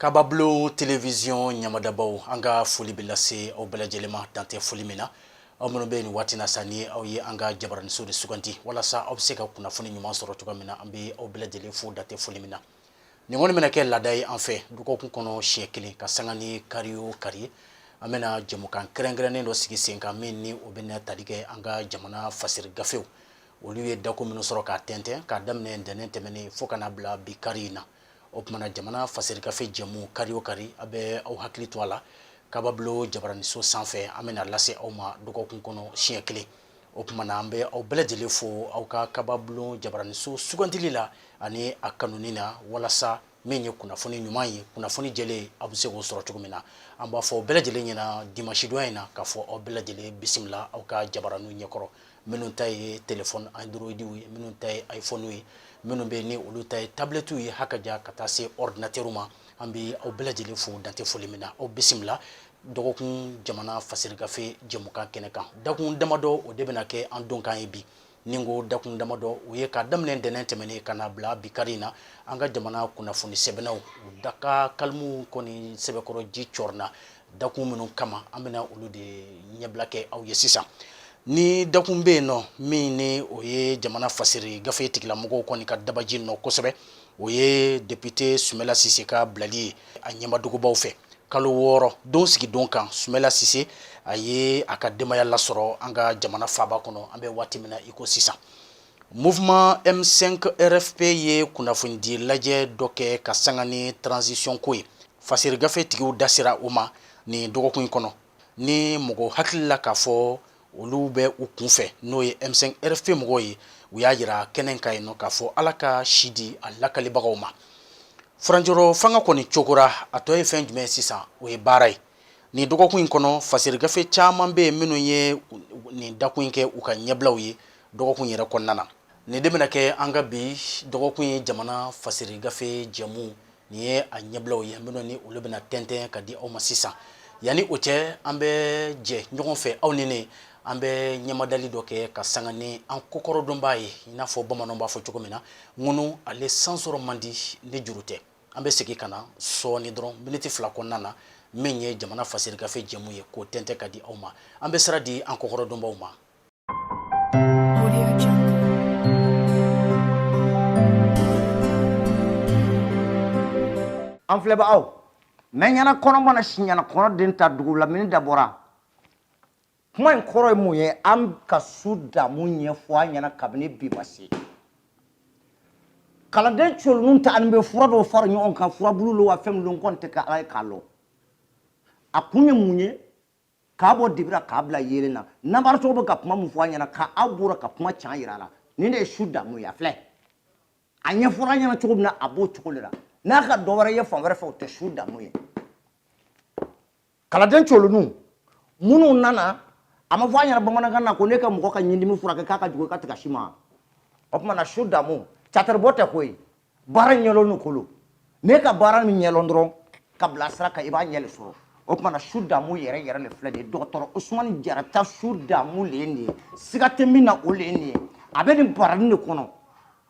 Kababulon televisiɔn ɲɛmadabaw an ka foli bɛ lase aw bɛɛ lajɛlen ma dan tɛ foli min na aw minnu bɛ nin waati na sa ni aw ye an ka jabaraniso de sugandi walasa aw bɛ se ka kunnafoni ɲuman sɔrɔ cogo min na an bɛ aw bɛɛ lajɛlen fo dan tɛ foli min na nin kɔni bɛna kɛ laada ye an fɛ dɔgɔkun kɔnɔ siɲɛ kelen ka sanga ni kari o kari ye an bɛna jɛmukan kɛrɛnkɛrɛnnen dɔ sigi sen kan min ni o bɛna tali kɛ an ka jamana fasiri gafew olu ye dako minnu sɔrɔ k'a tɛntɛn k'a daminɛ ntɛnɛn tɛmɛnen fo ka na bila bi kari in na o tuma na jamana fasiri gafe jɛmu kari o kari a bɛ aw hakili to a la kababulon jabaraniso sanfɛ an bɛna lase aw ma dɔgɔkun kɔnɔ siɲɛ kelen o tuma na an bɛ aw bɛɛ lajɛlen fo aw ka kababulon jabaraniso sugandili la ani a kanuni na walasa min ye kunnafoni ɲuman ye kunnafoni jɛlen aw bɛ se k'o sɔrɔ cogo min na an b'a fɔ aw bɛɛ lajɛlen ɲɛna dimasidon in na k'a fɔ aw bɛɛ lajɛlen bisimila aw ka jabaraniw ɲɛkɔrɔ minnu ta ye telefɔni androidiw ye minnu ta ye ifɔniw ye minnu bɛ ni olu ta ye tabilɛtiw ye hakaja ka taa se ɔridinatɛriw ma an bɛ aw bɛɛ lajɛlen fo dan tɛ foli min na aw bisimila dɔgɔkun jamana fasirigafe jɛmukan kɛnɛ kan dakun damadɔ o de bɛna kɛ an donkan ye bi nin ko dakun damadɔ o ye ka daminɛ ntɛnɛn tɛmɛnen ka na bila bi kari in na an ka jamana kunnafoni sɛbɛnnaw daka kalimu kɔni sɛbɛkɔrɔ ji cɔrɔna dakun minnu kama an bɛna olu de ɲɛbila kɛ aw ye sisan ni dakun bɛ yen nɔ min ni o ye jamana fasiri gafe tigilamɔgɔw kɔni ka dabaji nɔ kosɛbɛ o ye depite Sumayila Sise ka bilali ye a ɲɛmadogobaw fɛ kalo wɔɔrɔ don sigi don kan Sumayila Sise a ye a ka denbaya lasɔrɔ an ka jamana faaba kɔnɔ an bɛ waati min na i ko sisan muwuman M5 RFP ye kunnafonidi lajɛ dɔ kɛ ka sanga ni tranzisiyɔn ko ye fasiri gafetigiw da sera o ma nin dɔgɔkun in kɔnɔ ni mɔgɔ hakili la k'a fɔ olu bɛ u kun fɛ n'o ye M5 RFP mɔgɔw ye u y'a jira kɛnɛ kan yen nɔ k'a fɔ ala ka si di a lakalibagaw ma furancɛrɔ fanga kɔni cogora a tɔ ye fɛn jumɛn sisan o ye baara ye nin dɔgɔkun in kɔnɔ fasiri gafe caman bɛ yen minnu ye nin dakun in kɛ u ka ɲɛbilaw ye dɔgɔkun yɛrɛ kɔnɔna na nin de bɛna kɛ an ka bi dɔgɔkun ye jamana fasiri gafe jɛmu nin ye a ɲɛbilaw ye minnu ni olu bɛna tɛntɛn ka di aw ma sisan yanni o cɛ an bɛ jɛ ɲɔgɔn fɛ aw ni ne an bɛ ɲɛmadali dɔ kɛ ka sanga ni an kɔkɔrɔdonbaa ye i n'a fɔ bamananw b'a fɔ cogo min na ŋunu ale san sɔrɔ man di ni juru tɛ an bɛ segin ka na sɔɔni dɔrɔn miniti fila kɔnɔna na min ye jamana fasirigafe jɛmu ye k'o tɛntɛn ka di aw ma an bɛ sira di an kɔkɔrɔdonbaaw ma an filɛbagaw mɛ ɲɛna kɔnɔ mana si ɲɛna kɔnɔ den ta dugu la min da bɔra kuma in kɔrɔ ye mun ye an ka su damu ɲɛfɔ an ɲɛna kabini bi ma se kalanden colonninw ta an bɛ fura dɔw fara ɲɔgɔn kan furabulu lo wa fɛn min lo n kɔni tɛ ka ala ye k'a lɔn a kun ye mun ye k'a bɔ dibira k'a bila yeelen na nanbaratɔw bɛ ka kuma min fɔ a ɲɛna ka aw bɔra ka kuma can yira a la nin de ye su damu ye a filɛ a ɲɛfɔra a ɲɛna cogo min na a b'o cogo de la n'a ka dɔ wɛrɛ ye fan wɛrɛ fɛ o tɛ su damu ye kalanden colonninw minnu nana a ma fɔ a ɲɛna bamanankan na ko ne ka mɔgɔ ka ɲindimi furakɛ k'a ka jugu i ka tigɛ si ma o tuma na su damu cataribɔ tɛ koyi baara ɲɛlɔnni ko lo n'e ka baara min ɲɛlɔn dɔrɔn k'a bila sira kan i b'a ɲɛ le sɔrɔ o tuma na su damu yɛrɛ yɛrɛ le filɛ de dɔgɔtɔrɔ usumani jara ta su damu le ye nin ye siga tɛ min na o le ye nin ye a bɛ nin barani de kɔnɔ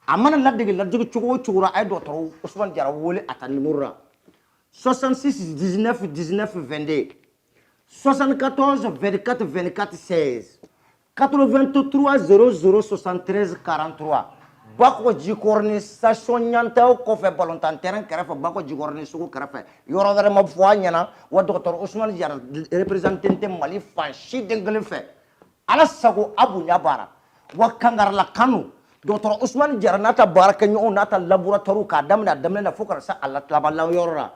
a mana ladege ladege cogo o cogo la a ye dɔgɔtɔrɔ usumani jara wele a ta nimoro la 66 19 19 22 74 24 24 16 83 00 73 43 bakɔ jikɔrɔni station ɲantaw kɔfɛ balontan terrain kɛrɛfɛ bakɔ jikɔrɔni sugu kɛrɛfɛ yɔrɔ wɛrɛ ma fɔ a ɲɛna wa dɔgɔtɔrɔ Ousmane Diarra représenté tɛ Mali fan si den kelen fɛ ala sago a bonya baara wa kangarala kanu dɔgɔtɔrɔ Ousmane Diarra n'a ta baarakɛɲɔgɔnw n'a ta laboratoire k'a daminɛ a daminɛ na fo ka na se a laban yɔrɔ la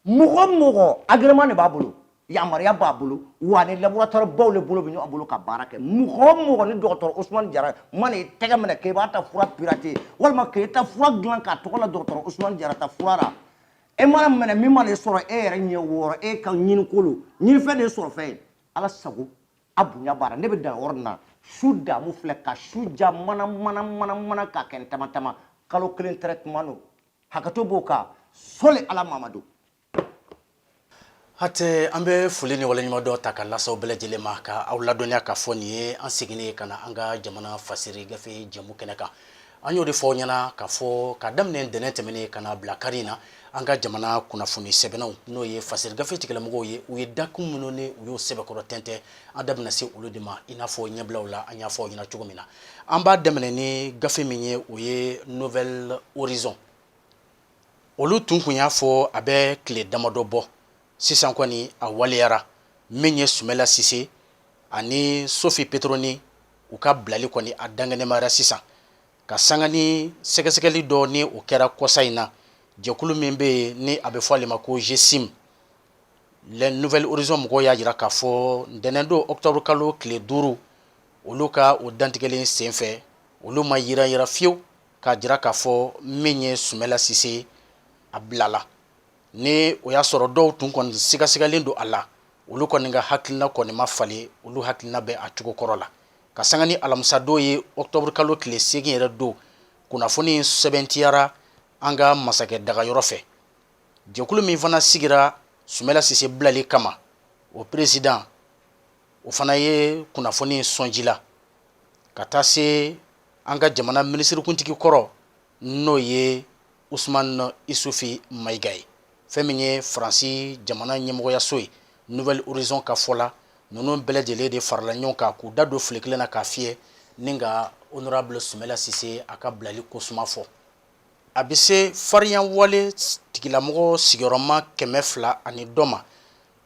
mɔgɔ mɔgɔ agrément de b'a bolo yamaruya b'a bolo wa ni laboratɔri baw le bolo bɛ ɲɔgɔn bolo ka baara kɛ mɔgɔ o mɔgɔ ni dɔgɔtɔrɔ usumani jara mana i tɛgɛ minɛ k'e b'a ta fura pirater walima k'e ta fura dilan k'a tɔgɔ la dɔgɔtɔrɔ usumani jara ta fura la e mana minɛ min mana e sɔrɔ e yɛrɛ ɲɛ wɔɔrɔ e ka ɲini ko lo ɲinifɛn de ye sɔrɔfɛn ye ala sago a bonya b'a la ne bɛ dan yɔrɔ nin na su damu filɛ ka su ja mana mana mana mana k'a kɛ n tama tama kalo kelen traitement don hakɛto b'o kan sɔli ala mamadu hatɛ an bɛ foli ni waleɲumandɔn ta k'a lase aw bɛɛ lajɛlen ma ka aw ladɔnniya k'a fɔ nin ye an seginnen ye ka na an ka jamana fasiri gafe jɛmu kɛnɛ kan an y'o de fɔ aw ɲɛna k'a fɔ k'a daminɛ ntɛnɛn tɛmɛnen ka na bila kari in na an ka jamana kunnafoni sɛbɛnnaw n'o ye fasiri gafe tigilamɔgɔw ye u ye dakun minnu ni u y'o sɛbɛkɔrɔ tɛntɛn an da bɛna se olu de ma i n'a fɔ ɲɛbilaw la an y'a fɔ aw ɲɛna cogo min na an b'a daminɛ ni gafe min ye o ye nouvel horizon olu tun kun y'a fɔ a bɛ tile damadɔ bɔ sisan kɔni a waleyara min ye sumela sise ani sofi petroni u ka bilali kɔni a dankɛnɛmayara sisan ka sanga ni sɛgɛsɛgɛli dɔ ni o kɛra kɔsa in na jɛkulu min bɛ yen ni a bɛ fɔ ale ma ko zesim le nouvel horizon mɔgɔw y'a jira k'a fɔ ntɛnɛn don octobre kalo tile duuru olu ka o dantigɛlen senfɛ olu ma yiranyiran fiyewu k'a jira k'a fɔ min ye sumela sise a bilala ni o y'a sɔrɔ dɔw tun kɔni sigasigalen don a la olu kɔni ka hakilina kɔni ma falen olu hakilina bɛ a cogo kɔrɔ la ka sanga ni alamisadon ye octobre kalo tile seegin yɛrɛ don kunnafoni sɛbɛntiyara an ka masakɛ dagayɔrɔ fɛ jɛkulu min fana sigira sumela sise bilali kama o président o fana ye kunnafoni sɔnji la ka taa se an ka jamana minisirikuntigi kɔrɔ n'o ye usman isufi mayiga ye fɛn min ye faransi jamana ɲɛmɔgɔyaso ye nouvel horizon ka fɔ la ninnu bɛɛ lajɛlen de farala ɲɔgɔn kan k'u da don file kelen na k'a fiyɛ ni ka honorable sumela sise a ka bilali ko suma fɔ a bɛ se farinyawale tigilamɔgɔ sigiyɔrɔma kɛmɛ fila ani dɔ ma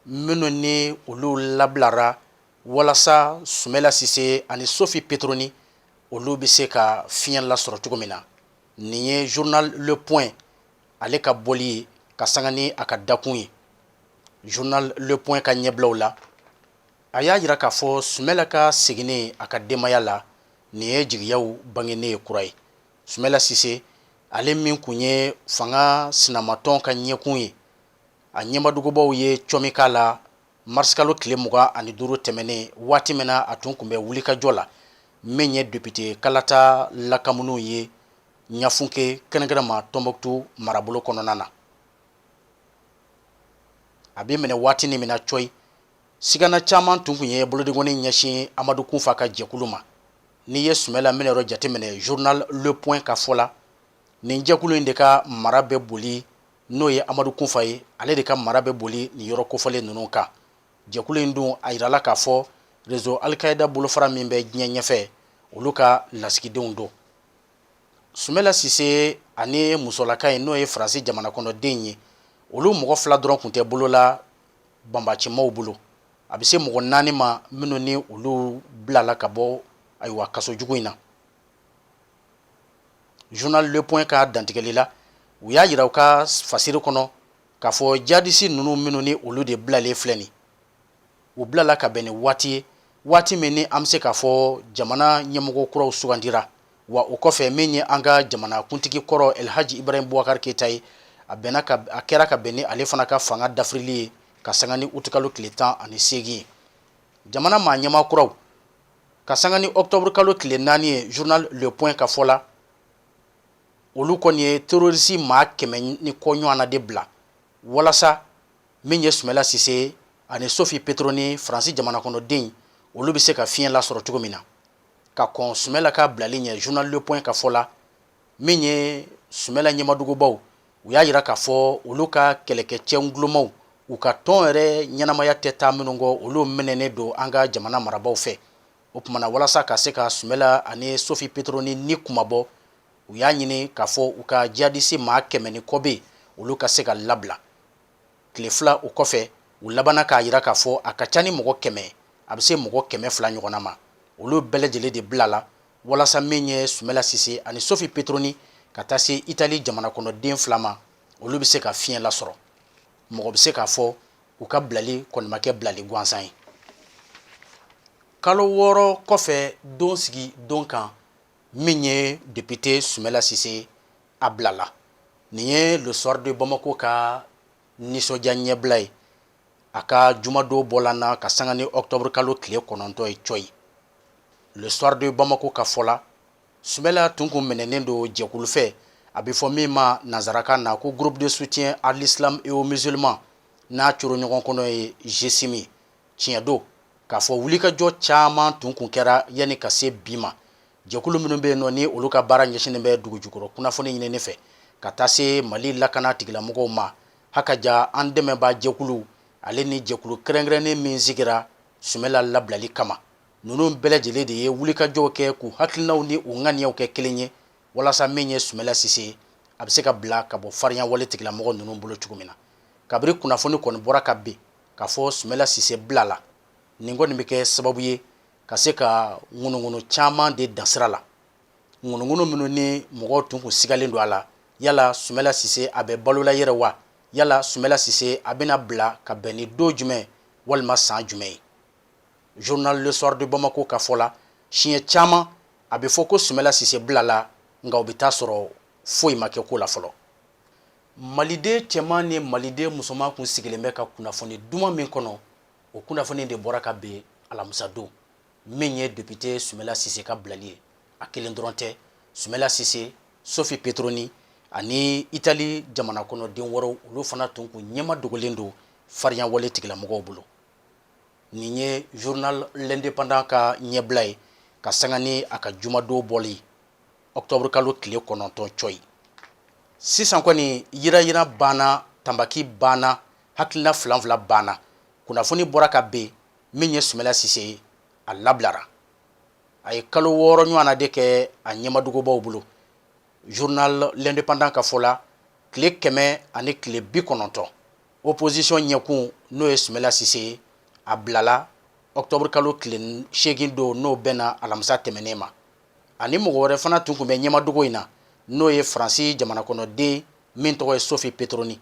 minnu ni olu labilara walasa sumela sise ani sofi petroni olu bɛ se ka fiɲɛ lasɔrɔ cogo min na nin ye journal le point ale ka bɔli ye ka sanga ni a ka dakun ye journal le point ka ɲɛbilaw la a y'a jira k'a fɔ sumela ka seginni a ka denbaya la nin ye jigiyaw bangenen ye kura ye sumela sise ale min kun ye fanga sinamatɔn ka ɲɛkun ye a ɲɛmadogobaw ye cɔmi k'a la marisikalo tile mugan ani duuru tɛmɛnen waati min na a tun kun bɛ wulikajɔ la min ye député kalata lakamuniw ye ɲafunke kɛrɛnkɛrɛnma tɔnbukutu marabolo kɔnɔna na a bɛ minɛ waati ni min na coyi sigana caman tun kun ye bolodenkɔni ɲɛsin amadu kunfa ka jɛkulu ma n'i ye sumela minɛyɔrɔ jateminɛ journal le point ka fɔ la nin jɛkulu in de ka mara bɛ boli n'o ye amadu kunfa ye ale de ka mara bɛ boli nin yɔrɔ kofɔlen ninnu kan jɛkulu in dun a jirala k'a fɔ rezo alikayida bolofara min bɛ diɲɛ ɲɛfɛ olu ka lasigidenw don sumela sise ani musolaka in n'o ye faransi jamana kɔnɔden ye olu mɔgɔ fila dɔrɔn kun tɛ bolo la banbaancimaw bolo a bɛ se mɔgɔ naani ma minnu ni olu bilala ka bɔ ayiwa kaso jugu in na journal le point ka dantigɛli la u y'a jira u ka fasiri kɔnɔ k'a fɔ jadisi ninnu minnu ni olu de bilalen filɛ nin u bilala ka bɛn ni waati ye waati min ni an bɛ se k'a fɔ jamana ɲɛmɔgɔ kuraw sugandira wa o kɔfɛ min ye an ka jamana kuntigi kɔrɔ elhaji ibrahim bubakari keyita ye a kɛra ka bɛn ni ale fana ka fanga dafirili ye ka sanga ni utikalo tile tan ani seegin ye jamana maa ɲɛmaa kuraw ka sanga ni octobre kalo tile 4 ye journal le point ka fɔ la olu kɔni ye terroriste maa kɛmɛ ni kɔ ɲɔgɔnna de bila walasa min ye sumɛla sise ani sofi petroni faransi jamanakɔnɔden olu bɛ se ka fiɲɛ lasɔrɔ cogo min na ka kɔn sumɛla ka bilali ɲɛ journal le point ka fɔ la min ye sumɛla ɲɛmadugubaw u y'a jira k'a fɔ olu ka kɛlɛkɛcɛ kolomaw u ka tɔn yɛrɛ ɲɛnamaya tɛ taa minnu kɔ olu minɛnen don an ka jamana marabaw fɛ o tuma na walasa ka se ka sumɛla ani sofi petroni ni kunmabɔ u y'a ɲini k'a fɔ u ka jihadisi maa kɛmɛ ni kɔ bɛɛ olu ka se ka labila tile fila o kɔfɛ u labanna k'a jira k'a fɔ a ka ca ni mɔgɔ kɛmɛ a bɛ se mɔgɔ kɛmɛ fila ɲɔgɔnna ma olu bɛɛ lajɛlen de bilala walasa min ye sumɛla sise ani sofi petroni ka taa se itali jamanakɔnɔden fila ma olu bɛ se ka fiɲɛ lasɔrɔ mɔgɔ bɛ se k'a fɔ u ka bilali kɔni ma kɛ bilali gansan ye kalo wɔɔrɔ kɔfɛ don sigi don kan min ye depite sumɛla sise a bilala nin ye le soir de bamako ka nisɔndiya ɲɛbila ye a ka jumadon bɔ la na ka sanga ni octobre kalo tile kɔnɔntɔn ye cɔyi le soir de Bamako ka fɔ la Sumɛla tun kun minɛnen don jɛkulu fɛ a bɛ fɔ min ma nansarakan na ko groupe de soutien à l'islam et aux musulmans n'a coro ɲɔgɔn kɔnɔ ye GSIMI tiɲɛ don k'a fɔ wulikajɔ caman tun kun kɛra yanni ka se bi ma jɛkulu minnu bɛ yen nɔ ni olu ka baara ɲɛsinnen bɛ dugujukɔrɔ kunnafoni ɲinini fɛ ka taa se Mali lakana tigilamɔgɔw ma Ha ka ja an dɛmɛbaa jɛkulu ale ni jɛkulu kɛrɛnkɛrɛnnen min sigira sumɛla labilali kama ninnu bɛɛ lajɛlen de ye wulikajɔw kɛ k'u hakilinaw ni u ŋaniyaw kɛ kelen ye walasa min ye sumɛla sise a bɛ se ka bila ka bɔ farinya wale tigilamɔgɔ ninnu bolo cogo min na kabiri kunnafoni kɔni bɔra ka bin k'a fɔ sumɛla sise bilala nin kɔni bɛ kɛ sababu ye ka se ka ŋunuŋunu caman de dan sira la ŋunuŋunu minnu ni mɔgɔw tun kun sigalen don a la yala sumɛla sise a bɛ balo la yɛrɛ wa yala sumɛla sise a bɛna bila ka bɛn ni don jumɛn walima san jumɛn ye journal le soir de bamako ka fɔ la siɲɛ caman a bɛ fɔ ko sumɛla sise bilala nka o bɛ taa sɔrɔ foyi ma kɛ ko la fɔlɔ maliden cɛman ni maliden musoman kun sigilen bɛ ka kunnafoni duman min kɔnɔ o kunnafoni de bɔra ka bin alamisadon min ye depite sumela sise ka bilali ye a kelen dɔrɔn tɛ sumela sise sofi petroni ani itali jamana kɔnɔden wɛrɛw olu fana tun kun ɲɛma dogolen don farinya wale tigilamɔgɔw bolo nin ye journal l'indépendant ka ɲɛbila ye ka sanga ni a ka jumadon bɔli ye octobre kalo tile kɔnɔntɔn cɔyi sisan kɔni yirayira banna tanbaki banna hakilina filanfila banna kunnafoni bɔra ka ben min ye sumela sise ye a labilara a ye kalo wɔɔrɔ ɲɔgɔnna de kɛ a ɲɛmadugubaw bolo journal l'indépendant ka fɔ la tile kɛmɛ ani tile bi kɔnɔntɔn opposition ɲɛkun n'o ye sumela sise ye a bilala octobre kalo tile seegin don n'o bɛnna alamisa tɛmɛnen ma ani mɔgɔ wɛrɛ fana tun kun bɛ ɲɛmadugu in na n'o ye faransi jamanakɔnɔden min tɔgɔ ye sofi petroni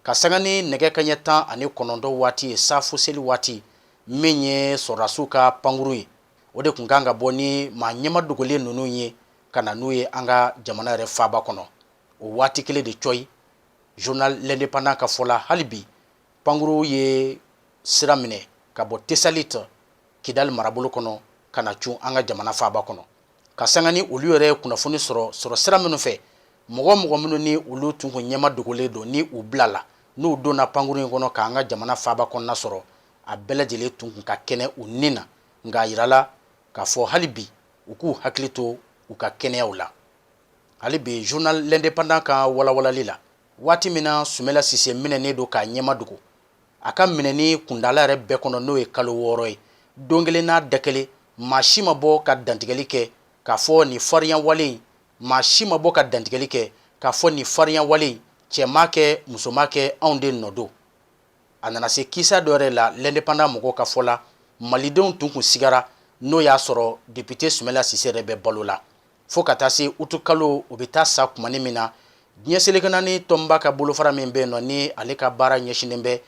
ka sanga ni nɛgɛ kaɲɛ tan ani kɔnɔntɔn waati ye safo seli waati min ye sɔrɔdasiw ka pankurun ye o de kun kan ka bɔ ni maa ɲɛma dogolen ninnu ye ka na n'u ye an ka jamana yɛrɛ faaba kɔnɔ o waati kelen de cɔyi journal l'indépendant ka fɔ la hali bi pankurun ye sira minɛ ka bɔ tesalit kidali marabolo kɔnɔ ka na cun an ka jamana faaba kɔnɔ ka sanga ni olu yɛrɛ ye kunnafoni sɔrɔ sɔrɔ sira minnu fɛ mɔgɔ o mɔgɔ minnu ni olu tun kun ɲɛma dogolen don ni u bilala n'u donna pankurun in kɔnɔ k'an ka jamana faaba kɔnɔna sɔrɔ a bɛɛ lajɛlen tun kun ka kɛnɛ u ni na nka a yirala k'a fɔ hali bi u k'u hakili to u ka kɛnɛyaw la hali bi journal l'indépendant ka walawalali la waati min na sumela sise minɛnen don k'a ɲɛma dogo a ka minɛni kundala yɛrɛ bɛɛ kɔnɔ n'o ye kalo wɔɔrɔ ye don kelen n'a da kelen maa si ma bɔ ka dantigɛli kɛ k'a fɔ nin fariyawale in cɛ m'a kɛ muso m'a kɛ anw de nɔ don a nana se kisa dɔ yɛrɛ la l'indépendant mɔgɔw ka fɔ la malidenw tun kun sigara n'o y'a sɔrɔ depite sumela sise yɛrɛ bɛ balo la fo ka taa se utu kalo o bɛ taa sa kumani min na diɲɛ seleke naani tɔnba ka bolofara min bɛ yen nɔ ni ale ka baara ɲɛsinnen bɛ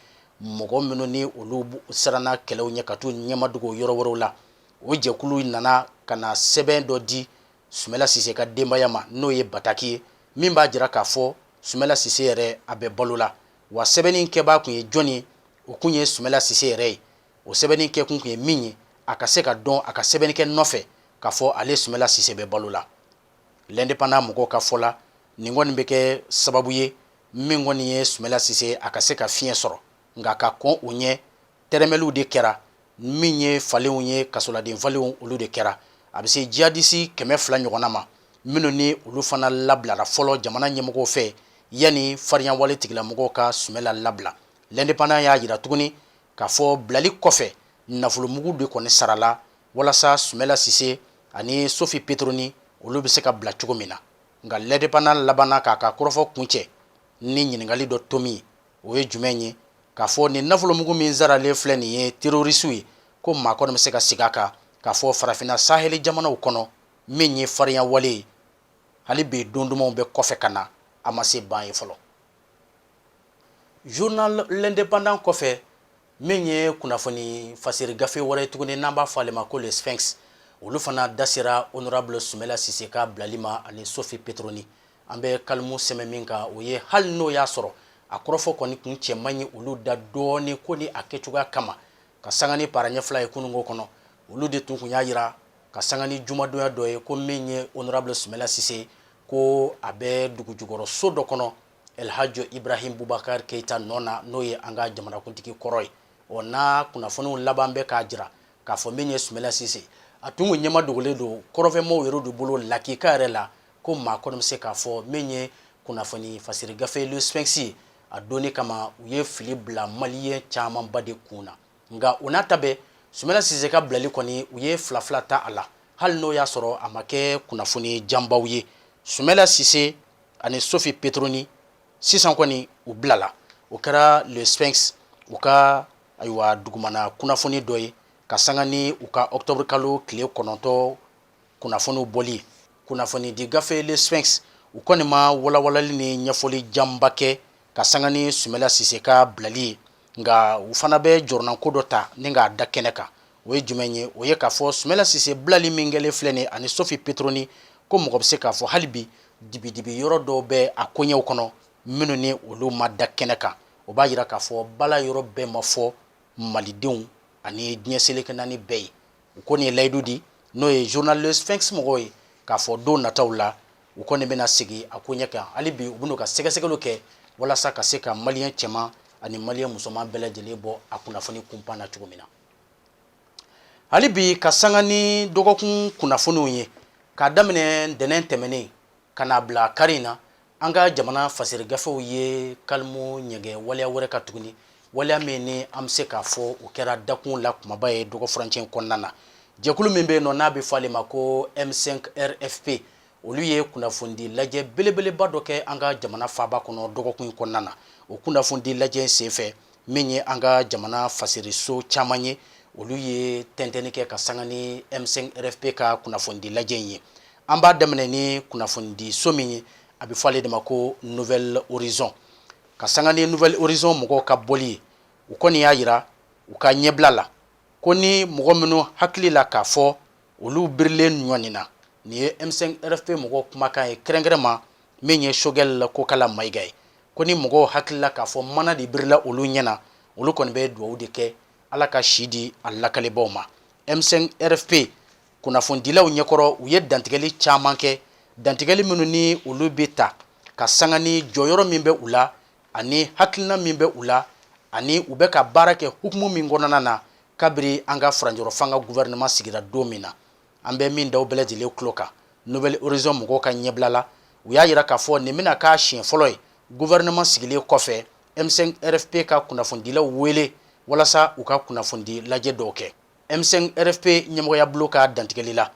mɔgɔ minnu ni olu siranna kɛlɛw ɲɛ ka t'u ɲɛmadugu yɔrɔ wɛrɛw la o jɛkulu nana ka na sɛbɛn dɔ di sumela sise ka denbaya ma n'o ye bataki ye min b'a jira k'a fɔ sumela sise yɛrɛ a bɛ balo la wa sɛbɛnni kɛbaa kun ye jɔnni o kun ye sumela sise yɛrɛ ye o sɛbɛnni kɛ kun ye min ye a ka se ka dɔn a ka sɛbɛnnikɛ nɔfɛ k'a fɔ ale sumela sise bɛ balo la l'indépendant mɔgɔw ka fɔ la nin kɔni bɛ kɛ sababu ye min kɔni ye sumela sise a ka se ka fiɲɛ sɔrɔ nka ka kɔn u ɲɛ tɛrɛmɛliw de kɛra min ye falenw ye kasoladen falenw olu de kɛra a bɛ se jihadisi kɛmɛ fila ɲɔgɔnna ma minnu ni olu fana labilara fɔlɔ jamana ɲɛmɔgɔw fɛ yanni farinya wale tigilamɔgɔw ka sumela labila l'indépendant y'a jira tuguni k'a fɔ bilali kɔfɛ nafolomugu de kɔni sarala walasa sumela sise ani sofi petroni olu bɛ se ka bila cogo min na nka l'indépendant labanna k'a ka kɔrɔfɔ kuncɛ ni ɲininkali dɔ tomi o ye jumɛn ye k'a fɔ nin nafolomugu min saralen filɛ nin ye terorisiw ye ko maa kɔni bɛ se ka sigi a kan k'a fɔ farafinna saheli jamanaw kɔnɔ min ye farinya wale ye hali bi don dumanw bɛ kɔfɛ ka na a ma se ban ye fɔlɔ journal l'indépendant kɔfɛ min ye kunnafoni fasiri gafe wɛrɛ tuguni n'an b'a fɔ ale ma ko le sphinx olu fana da sera honorable sumela sise ka bilali ma ani sofi petroni an bɛ kalimu sɛmɛ min kan o ye hali n'o y'a sɔrɔ a kɔrɔfɔ kɔni kun cɛ man ɲi olu da dɔɔni ko ni a kɛcogoya kama ka sanga ni para ɲɛfila ye kununko kɔnɔ olu de tun kun y'a jira ka sanga ni jumadonya dɔ ye ko min ye honorable sumela sise ko a bɛ dugu jukɔrɔ so dɔ kɔnɔ alhaji ibrahim bubakari keyita nɔ na n'o ye an ka jamanakuntigi kɔrɔ ye o n'a kunnafoniw laban bɛ k'a jira k'a fɔ min ye sumɛla sise a tun kun ɲɛma dogolen don kɔrɔnfɛmɔgɔw yɛrɛ de bolo lakika yɛrɛ la ko maa kɔni bɛ se k'a fɔ min ye kunnafoni fasiri gafe le sphinx ye a donni kama u ye fili bila maliyɛn camanba de kun na nka o n'a ta bɛɛ sumɛla sise ka bilali kɔni u ye fila fila ta a la hali n'o y'a sɔrɔ a ma kɛ kunnafoni janbaw ye sumɛla sise ani sofi petroni sisan kɔni u bilala o kɛra le sphinx u ka ayiwa dugumana kunnafoni dɔ ye ka sanga ni u ka octobre kalo tile kɔnɔntɔ kunnafoniw bɔli ye kunnafoni di gafe le sphinx u kɔni ma walawalali ni ɲɛfɔli janba kɛ ka sanga ni sumɛla sise ka bilali ye nka u fana bɛ jɔrɔnanko dɔ ta ni k'a da kɛnɛ kan o ye jumɛn ye o ye k'a fɔ sumɛla sise bilali min kɛlen filɛ nin ani sofi petroni ko mɔgɔ bɛ se k'a fɔ hali bi dibidibi yɔrɔ dɔw bɛ a koɲɛw kɔnɔ minnu ni olu ma da kɛnɛ kan o b'a jira k'a fɔ bala yɔrɔ bɛɛ ma fɔ malidenw ani diɲɛ seleke naani bɛɛ ye u kɔni ye layidu di n'o ye journal le sphinx mɔgɔw ye k'a fɔ don nataw la u kɔni bɛna segin a koɲɛ kan hali bi u bɛn'u ka sɛgɛsɛgɛliw kɛ walasa ka se ka maliyɛn cɛman ani maliyɛn musoman bɛɛ lajɛlen bɔ a kunnafoni kunpan na cogo min na hali bi ka sanga ni dɔgɔkun kunnafoniw ye k'a daminɛ ntɛnɛn tɛmɛnen ka n'a bila kari in na an ka jamana fasiri gafew ye kalimu ɲɛgɛn waleya wɛrɛ kan tuguni waleya min ni an bɛ se k'a fɔ o kɛra dakun la kumaba ye dɔgɔ furancɛ kɔnɔna na jɛkulu min bɛ yen nɔ n'a bɛ fɔ ale ma ko m5 rfp olu ye kunnafonidi lajɛ belebeleba dɔ kɛ an ka jamana faaba kɔnɔ dɔgɔkun in kɔnɔna na o kunnafonidi lajɛ senfɛ min ye an ka jamana fasiriso caman ye olu ye tɛntɛnni kɛ ka sanga ni m5 rfp ka kunnafonidi lajɛ in ye an b'a daminɛ ni kunnafonidi so min ye a bɛ fɔ ale de ma ko nouvelle horizon ka sanga ni nouvelle horizon mɔgɔw ka bɔli ye u kɔni y'a jira u ka ɲɛbila la ko ni mɔgɔ minnu hakili la k'a fɔ olu birilen ɲɔgɔn nin na nin ye m5 rfp mɔgɔ kumakan ye kɛrɛnkɛrɛn ma min ye sogɛl kokala mayiga ye ko ni mɔgɔw hakili la k'a fɔ mana de birila olu ɲɛ na olu kɔni bɛ dugawu de kɛ ala ka si di a lakalibaw ma m5 rfp kunnafonidilaw ɲɛkɔrɔ u ye dantigɛli caman kɛ dantigɛli minnu ni olu bɛ ta ka sanga ni jɔyɔrɔ min bɛ u la ani hakilina min bɛ u la ani u bɛ ka baara kɛ hukumu min kɔnɔna na kabiri an ka furanjɔrɔfanga gouvernement sigira don min na an bɛ min da aw bɛɛ lajɛlen tulo kan nouvelle horizon mɔgɔw ka ɲɛbila la u y'a jira k'a fɔ nin bɛna k'a siɲɛ fɔlɔ ye gouvernement sigilen kɔfɛ m5 rfp ka kunnafonidilaw wele walasa u ka kunnafonidi lajɛ dɔw kɛ m5 rfp ɲɛmɔgɔyabolo ka dantigɛli la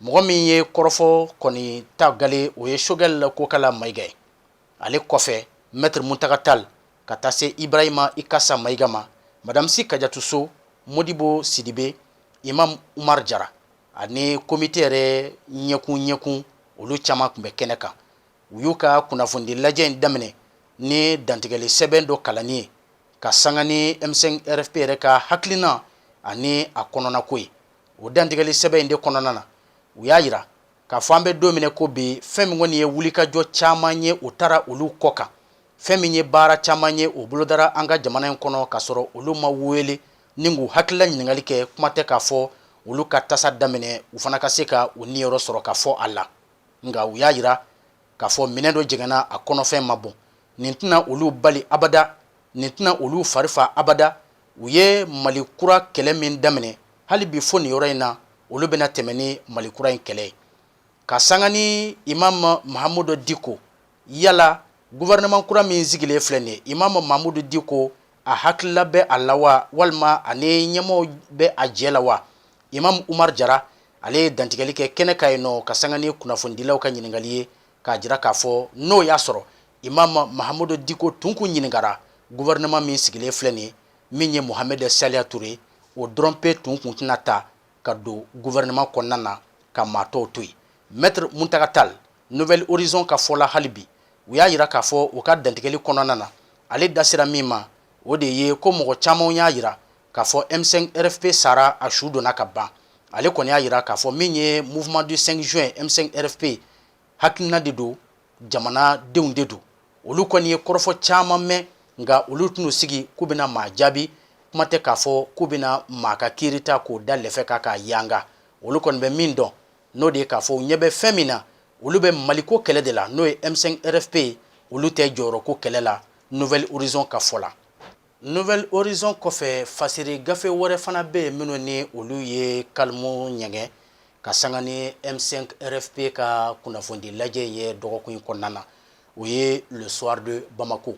mɔgɔ min ye kɔrɔfɔ kɔni ta gale o ye sogɛl kokala mayiga ye ale kɔfɛ mɛtiri muntaga tali ka taa se ibrahima ikasa mayiga ma madamu si kajatu so mɔdibo sidibe imam umaru jara ani komite yɛrɛ ɲɛkun ɲɛkun olu caman tun bɛ kɛnɛ kan u y'u ka kunnafoni lajɛ in daminɛ ni dantigɛli sɛbɛn dɔ kalanni ye ka sanga ni m5 rfp yɛrɛ ka hakilina ani a kɔnɔnako ye o dantigɛli sɛbɛn in de kɔnɔna na u y'a jira k'a fɔ an bɛ don min na i ko bi fɛn min kɔni ye wulikajɔ caman ye o taara olu kɔ kan fɛn min ye baara caman ye o bolodara an ka jamana in kɔnɔ k'a sɔrɔ olu ma wele ni k'u hakilila ɲininkali kɛ kuma tɛ k'a fɔ olu ka tasa daminɛ u fana ka se ka u niyɔrɔ sɔrɔ ka fɔ a la nka u y'a jira k'a fɔ minɛn dɔ jɛngɛnna a kɔnɔfɛn ma bɔn nin tɛna olu bali abada nin tɛna olu fari fa abada u ye mali kura kɛlɛ min daminɛ hali bi fo nin yɔrɔ in na olu bɛna tɛmɛ ni mali kura in kɛlɛ ye ka sanga ni imam mahamudu diko yala gouvernement kura min sigilen filɛ nin ye imam mahamudu diko a hakilila bɛ a la wa walima a ni ɲɛmɔgɔw bɛ a jɛ la wa imam umar jara ale ye dantigɛli kɛ kɛnɛ kan yen nɔ ka sanga ni kunnafonidilaw ka ɲininkali ye k'a jira k'a fɔ n'o y'a sɔrɔ imam mahamudu diko tun kun ɲininkara gouvernement min sigilen filɛ nin min ye mohamɛd saliya ture o dɔrɔnpe tun kun tɛna ta ka don gouvernement kɔnɔna na ka maa tɔw to yen mɛtiri muntaga tali nouvelle horizon ka fɔ la hali bi u y'a jira k'a fɔ u ka dantigɛli kɔnɔna na ale da sera min ma o de ye ko mɔgɔ caman y'a jira k'a fɔ M5 RFP sara a su donna ka ban ale kɔni y'a yira k'a fɔ min ye mouvement du 5 juin M5 RFP hakilina de don jamanadenw de don olu kɔni ye kɔrɔfɔ caman mɛn nka olu tɛn'u sigi k'u bɛna maa jaabi kuma tɛ k'a fɔ k'u bɛna maa ka kiiri ta k'o da lɛfɛ kan k'a yanga olu kɔni bɛ min dɔn n'o de ye k'a fɔ u ɲɛ bɛ fɛn min na olu bɛ maliko kɛlɛ de la n'o ye M5 RFP olu tɛ jɔyɔrɔko kɛlɛ la Nouvel Horizon ka fɔ la Nouvel Horizon kɔfɛ fasiri gafe wɛrɛ fana bɛ yen minnu ni olu ye kalimu ɲɛgɛn ka sanga ni M5 RFP ka kunnafonidi lajɛ in ye dɔgɔkun in kɔnɔna na o ye le soir de Bamako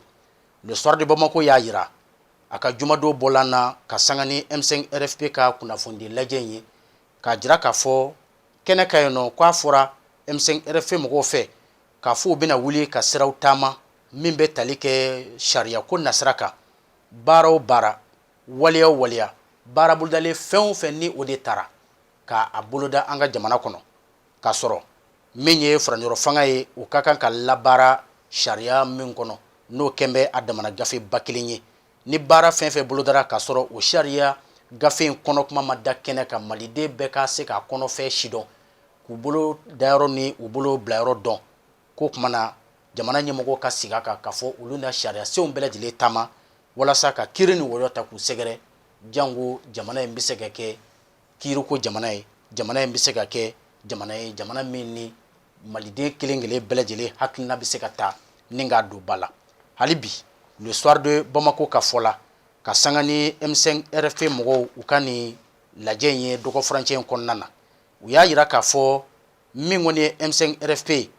le soir de Bamako y'a yira a ka jumadon bɔlan na ka sanga ni M5 RFP ka kunnafonidi lajɛ in ye k'a jira k'a fɔ kɛnɛ kan yen nɔ k'a fɔra M5 RFP mɔgɔw fɛ k'a fɔ u bɛna wuli ka siraw taama min bɛ tali kɛ sariya ko nasira kan baara o baara waleya o waleya baara bolodalen fɛn o fɛn ni o de taara ka a boloda an ka jamana kɔnɔ k'a sɔrɔ min ye furancɛrɔ fanga ye u ka kan ka labaara sariya min kɔnɔ n'o kɛn bɛ a damana gafe ba kelen ye ni baara fɛn fɛn bolodara k'a sɔrɔ o sariya gafe in kɔnɔ kuma ma da kɛnɛ kan maliden bɛɛ ka se k'a kɔnɔfɛn sidɔn k'u bolo dayɔrɔ ni u bolo bilayɔrɔ dɔn k'o kuma na jamana ɲɛmɔgɔw ka sigi a kan k'a fɔ olu na sariyasenw bɛɛ lajɛlen taama walasa ka kiri ni wɔyɔ ta k'u sɛgɛrɛ jango jamana in bɛ se ka kɛ kiiriko jamana ye jamana in bɛ se ka kɛ jamana ye jamana min ni maliden kelen kelen bɛɛ lajɛlen hakilina bɛ se ka ta ni k'a don ba la hali bi le soir de Bamako ka fɔ la ka sanga ni M5 RFP mɔgɔw u ka nin lajɛ in ye dɔgɔfurancɛ in kɔnɔna na u y'a yira k'a fɔ min kɔni ye M5 RFP ye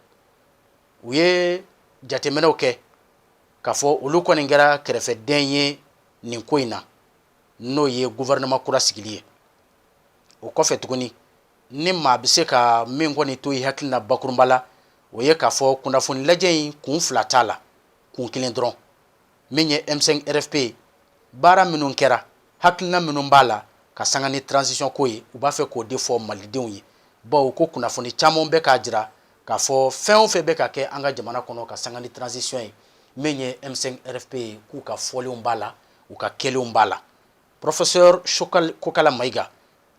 u ye jateminɛw kɛ k'a fɔ olu kɔni kɛra kɛrɛfɛden ye nin ko in na n'o ye gouvernement kura sigili ye o kɔfɛ tuguni ni maa bɛ se ka min kɔni to i hakili la bakurunba la o ye k'a fɔ kunnafoni lajɛ in kun fila t'a la kun kelen dɔrɔn min ye M5 RFP ye baara minnu kɛra hakilina minnu b'a la ka sanga ni transition ko ye u b'a fɛ k'o de fɔ malidenw ye bawo ko kunnafoni caman bɛ k'a jira k'a fɔ fɛn o fɛn bɛ ka kɛ an ka jamana kɔnɔ ka sanga ni transition ye min ye M5 RFP ye k'u ka fɔlenw b'a la u ka kɛlenw b'a la Professeur Kokala Mayiga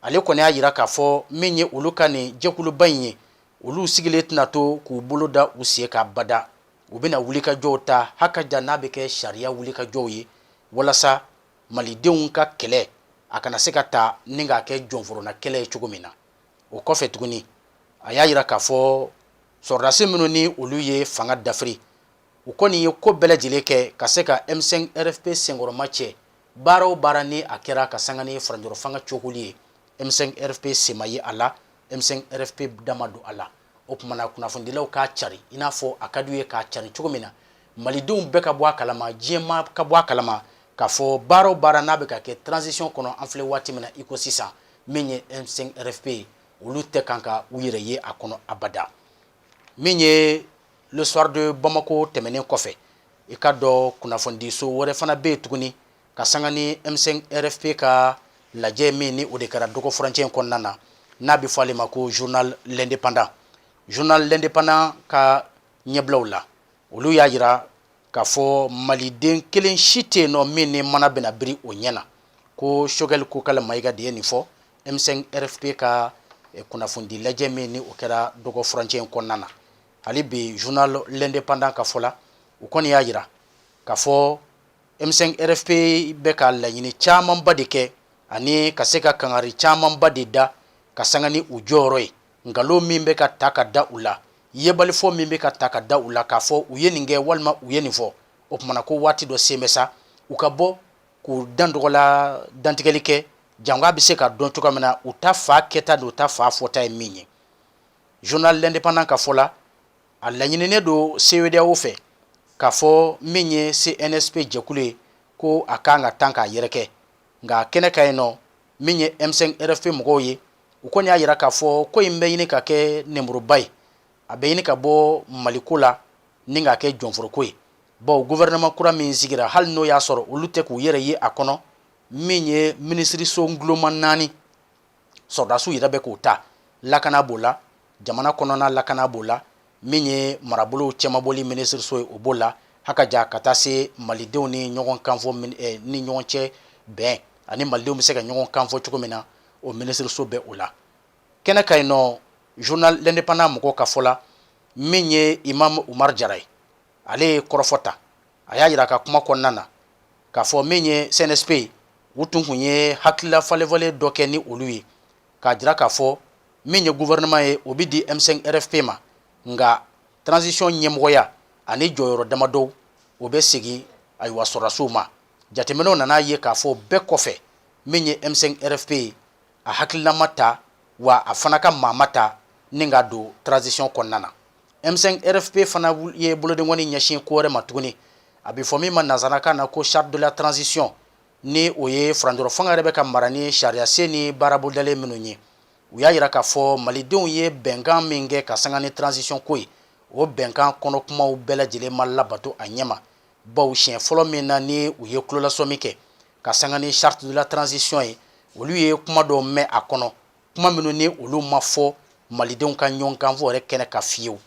ale kɔni y'a yira k'a fɔ min ye olu ka nin jɛkuluba in ye, olu sigilen tɛna to k'u bolo da u sen kan abada, u bɛna wulikajɔw ta hakaja n'a bɛ kɛ sariya wulikajɔw ye walasa Malidenw ka kɛlɛ a kana se ka ta ni k'a kɛ jɔnforonna kɛlɛ ye cogo min na, o kɔfɛ tuguni a y'a yira k'a fɔ sɔrɔdasi minnu ni olu ye fanga dafiri, u kɔni ye ko bɛɛ lajɛlen kɛ ka se ka M5 RFP senkɔrɔmacɛ. baara o baara ni a kɛra ka sanga ni furancɛrɔ fanga cokoli ye M5RFP sen ma ye a la M5RFP da ma don a la o kuma na kunnafonidilaw k'a cari i n'a fɔ a ka d'u ye k'a cari cogo min na malidenw bɛɛ ka bɔ a kalama diɲɛmaa ka bɔ a kalama k'a fɔ baara o baara n'a bɛ ka kɛ transition kɔnɔ an filɛ waati min na i ko sisan min ye M5RFP ye olu tɛ kan ka u yɛrɛ ye a kɔnɔ abada min ye le soir de Bamako tɛmɛnen kɔfɛ i k'a dɔn kunnafonidiso wɛrɛ fana bɛ yen tuguni ka sanga ni M5 RFP ka lajɛ min ni o de kɛra dɔgɔ furancɛ in kɔnɔna na n'a bɛ fɔ ale ma ko journal l'indépendant journal l'indépendant ka ɲɛbilaw la olu y'a jira k'a fɔ maliden kelen si tɛ yen nɔ min ni mana bɛna biri o ɲɛ na ko Choguel Kokalla Maïga de ye nin fɔ M5 RFP ka kunnafonidi lajɛ min ni o kɛra dɔgɔ furancɛ in kɔnɔna na hali bi journal l'indépendant ka fɔ la u kɔni y'a jira k'a fɔ M5 RFP bɛ ka laɲini camanba de kɛ ani ka se ka kangari camanba de da ka sanga ni u jɔyɔrɔ ye nkalon min bɛ ka ta ka da u la yebalifɔ min bɛ ka ta ka da u la k'a fɔ u ye nin kɛ walima u ye nin fɔ o kuma na ko waati dɔ sen bɛ sa u ka bɔ k'u dan dɔgɔla dantigɛli kɛ jango a bɛ se ka dɔn cogoya min na u ta fan kɛta ni u ta fan fɔta ye min ye journal l'indépendant ka fɔ la a laɲininen don CEDEAO fɛ k'a fɔ min ye CNSP jɛkulu ye ko a kan ka tan k'a yɛrɛkɛ nka kɛnɛ kan yen nɔ min ye M5 RFP mɔgɔw ye u kɔni y'a jira k'a fɔ ko in bɛ ɲini ka kɛ nɛnburuba ye a bɛ ɲini ka bɔ maliko la ni ka kɛ jɔnforoko ye bawo gouvernement kura min sigira hali n'o y'a sɔrɔ olu tɛ k'u yɛrɛ ye a kɔnɔ min ye minisiriso nguloma naani sɔrɔdasiw yɛrɛ bɛ k'o ta lakana b'o la jamana kɔnɔna lakana b'o la min ye marabolow cɛmabɔli minisiriso ye o b'o la ha ka ja ka taa se malidenw ni ɲɔgɔn kanfɔ eh, ni ɲɔgɔn cɛ bɛn ani malidenw bɛ se ka ɲɔgɔn kanfɔ cogo min na o minisiriso bɛ o la kɛnɛ kan yen nɔ journal l'indépendant mɔgɔw ka fɔ la min ye imam Umar Jara ye ale ye kɔrɔfɔ ta a y'a jira a ka kuma kɔnɔna na k'a fɔ min ye CNSP ye u tun kun ye hakilila falenfalen dɔ kɛ ni olu ye k'a jira k'a fɔ min ye gouvernement ye o bɛ di M5 RFP ma nka transition ɲɛmɔgɔya ani jɔyɔrɔ damadɔ o bɛ segin ayiwa sɔrɔdasiw ma jateminɛw nana a ye k'a fɔ bɛɛ kɔfɛ min ye M5 RFP ye a hakilila ma ta wa a fana ka maa ma ta ni ka don transition kɔnɔna na M5 RFP fana ye bolodenkɔni ɲɛsin ko wɛrɛ ma tuguni a bɛ fɔ min ma nansarakan na ko charte de la transition ni o ye furancɛrɔ fanga yɛrɛ bɛ ka mara ni sariyasen ni baara bolodalen minnu ye u y'a yira k'a fɔ malidenw ye bɛnkan min kɛ ka sanga ni transition ko ye o bɛnkan kɔnɔ kumaw bɛɛ lajɛlen ma labato a ɲɛma baw siɲɛ fɔlɔ min na ni u ye tulolasɔmi kɛ ka sanga ni charte de la transition ye olu ye kuma dɔw mɛn a kɔnɔ kuma minnu ni olu ma fɔ malidenw ka ɲɔgɔn kanfɔ yɛrɛ kɛnɛ kan fiyewu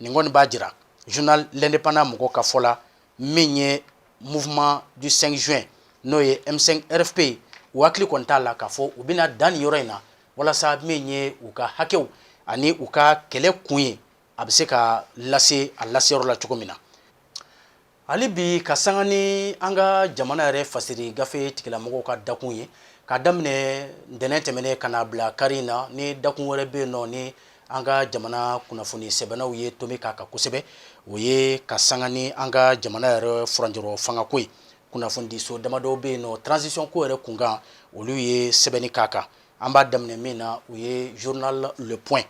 nin kɔni b'a jira journal l'indépendant mɔgɔw ka fɔ la min ye mouvement du 5 juin n'o ye M5 RFP u hakili kɔni t'a la k'a fɔ u bɛna dan nin yɔrɔ in na walasa min ye u ka hakɛw ani u ka kɛlɛ kun ye a bɛ se ka lase a laseyɔrɔ la cogo min na Hali bi ka sanga ni an ka jamana yɛrɛ fasiri gafe tigilamɔgɔw ka dakun ye ka daminɛ ntɛnɛn tɛmɛnen ka n'a bila kari in na ni dakun wɛrɛ bɛ yen nɔ ni an ka jamana kunnafoni sɛbɛnnaw ye tomi k'a kan kosɛbɛ o ye ka sanga ni an ka jamana yɛrɛ furancɛrɔ fangako ye kunnafonidiso damadɔ bɛ yen nɔ transition ko yɛrɛ kunkan olu ye sɛbɛnni k'a kan an b'a daminɛ min na o ye journal Le Point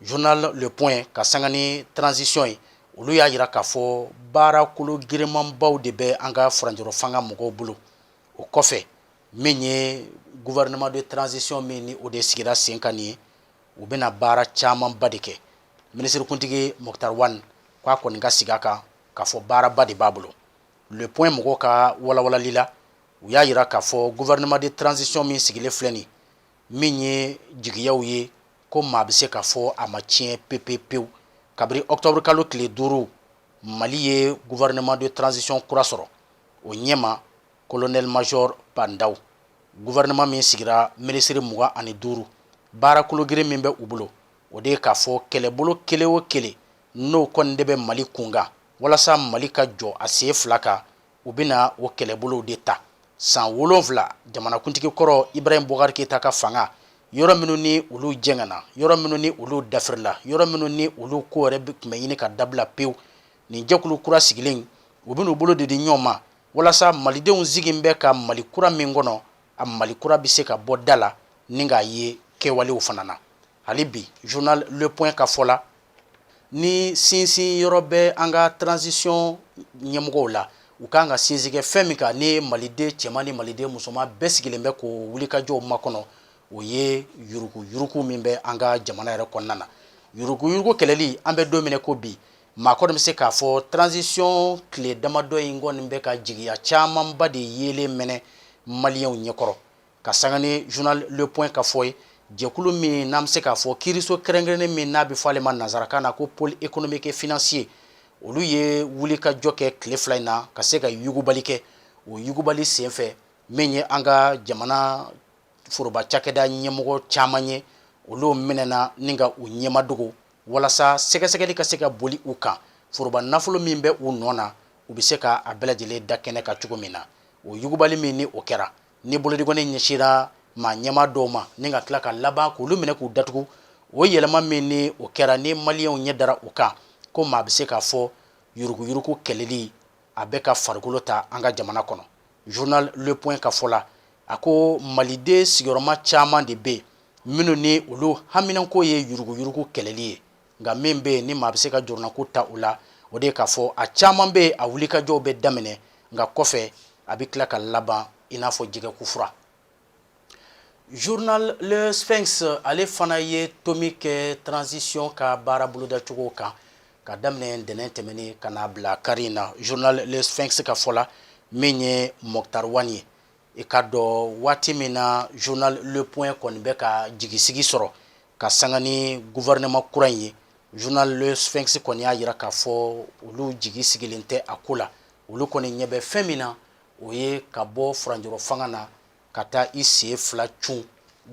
journal le point ka sanga ni transition ye, olu y'a yira k'a fɔ baara kologirinmanbaw de bɛ an ka furancɛrɔ fanga mɔgɔw bolo, o kɔfɛ min ye gouvernement de transition min ni o de sigira sen kan nin ye, u bɛna baara camanba de kɛ minisirikuntigi Moctar Ouane k'a kɔni ka sigi a kan k'a fɔ baaraba de b'a bolo le point mɔgɔw ka walawalali la, u y'a yira k'a fɔ gouvernement de transition min sigilen filɛ nin, min ye jigiyaw ye ko maa bɛ se k'a fɔ a ma tiɲɛ pepe pewu kabiri octobre kalo tile duuru mali ye gouvernement de transition kura sɔrɔ o ɲɛmaa colonel major Bah N'Daw gouvernement min sigira minisiri mugan ani duuru baara kologirin min bɛ u bolo o de ye k'a fɔ kɛlɛbolo kelen o kelen n'o kɔni de bɛ mali kunkan walasa mali ka jɔ a sen fila kan u bɛna o kɛlɛbolow de ta san wolonfila jamanakuntigi kɔrɔ Ibrahim Boubacar Keita ka fanga yɔrɔ minnu ni olu jɛngɛnna yɔrɔ minnu ni olu dafirila yɔrɔ minnu ni olu ko yɛrɛ tun bɛ ɲini ka dabila pewu nin jɛkulu kura sigilen u bɛna u bolo de di ɲɔgɔn ma walasa malidenw sigilen bɛ ka mali kura min kɔnɔ a mali kura bɛ se ka bɔ da la ni k'a ye kɛwalew fana na hali bi journal Le Point ka fɔ la ni sinsin yɔrɔ bɛ an ka transition ɲɛmɔgɔw la u ka kan ka sinsin kɛ fɛn min kan ni maliden cɛman ni maliden musoman bɛɛ sigilen bɛ k'o wulikajɔw makɔnɔ o ye yuruku yuruku min bɛ an ka jamana yɛrɛ kɔnɔna na yuruku yuruku kɛlɛli an bɛ don min na i ko bi maa kɔni bɛ se k'a fɔ transition tile damadɔ in kɔni bɛ ka jigiya camanba de yeelen mɛnɛ maliyɛnw ɲɛkɔrɔ ka sanga ni journal le point ka fɔ ye jɛkulu min n'an bɛ se k'a fɔ kiiriso kɛrɛnkɛrɛnnen min n'a bɛ fɔ ale ma nanzarakan na ko pôle économique et financier olu ye wulikajɔ kɛ tile fila in na ka se ka yugubali kɛ o yugubali senfɛ min ye an ka jamana foroba cakɛda ɲɛmɔgɔ caman ye olu minɛna ni ka u ɲɛmadogo walasa sɛgɛsɛgɛli ka se ka boli u kan foroba nafolo min bɛ u nɔ na u bɛ se ka a bɛɛ lajɛlen da kɛnɛ kan cogo min na o yugubali min ni o kɛra ni bolodi kɔni ɲɛsira maa ɲɛmaa dɔw ma ni ka tila ka laban k'olu minɛ k'u datugu o yɛlɛma min ni o kɛra ni maliyɛnw ɲɛ dara o kan ko maa bɛ se k'a fɔ yuruguyurugu kɛlɛli a bɛ ka farikolo ta an ka jamana kɔnɔ journal le point ka fɔ la a ko maliden sigiyɔrɔma caman de bɛ yen minnu ni olu haminanko ye yuruguyurugu kɛlɛli ye nka min bɛ yen ni maa bɛ se ka jɔrɔnako ta u la o de ye k'a fɔ a caman bɛ yen a wulikajɔw bɛ daminɛ nka kɔfɛ a bɛ tila ka laban i n'a fɔ jɛgɛkufura journal le sphinx ale fana ye tomi kɛ transition ka baara bolodacogo kan ka daminɛ ntɛnɛn tɛmɛnen ka n'a bila kari in na journal le sphinx ka fɔ la min ye moctar ouane ye i ka dɔn waati min na journal le point kɔni bɛ ka jigisigi sɔrɔ ka sanga ni gouvernement kura in ye journal le sphinx kɔni y'a jira k'a fɔ olu jigi sigilen tɛ a ko la olu kɔni ɲɛ bɛ fɛn min na o ye ka bɔ furanjɔrɔ fanga na ka taa i sen fila cun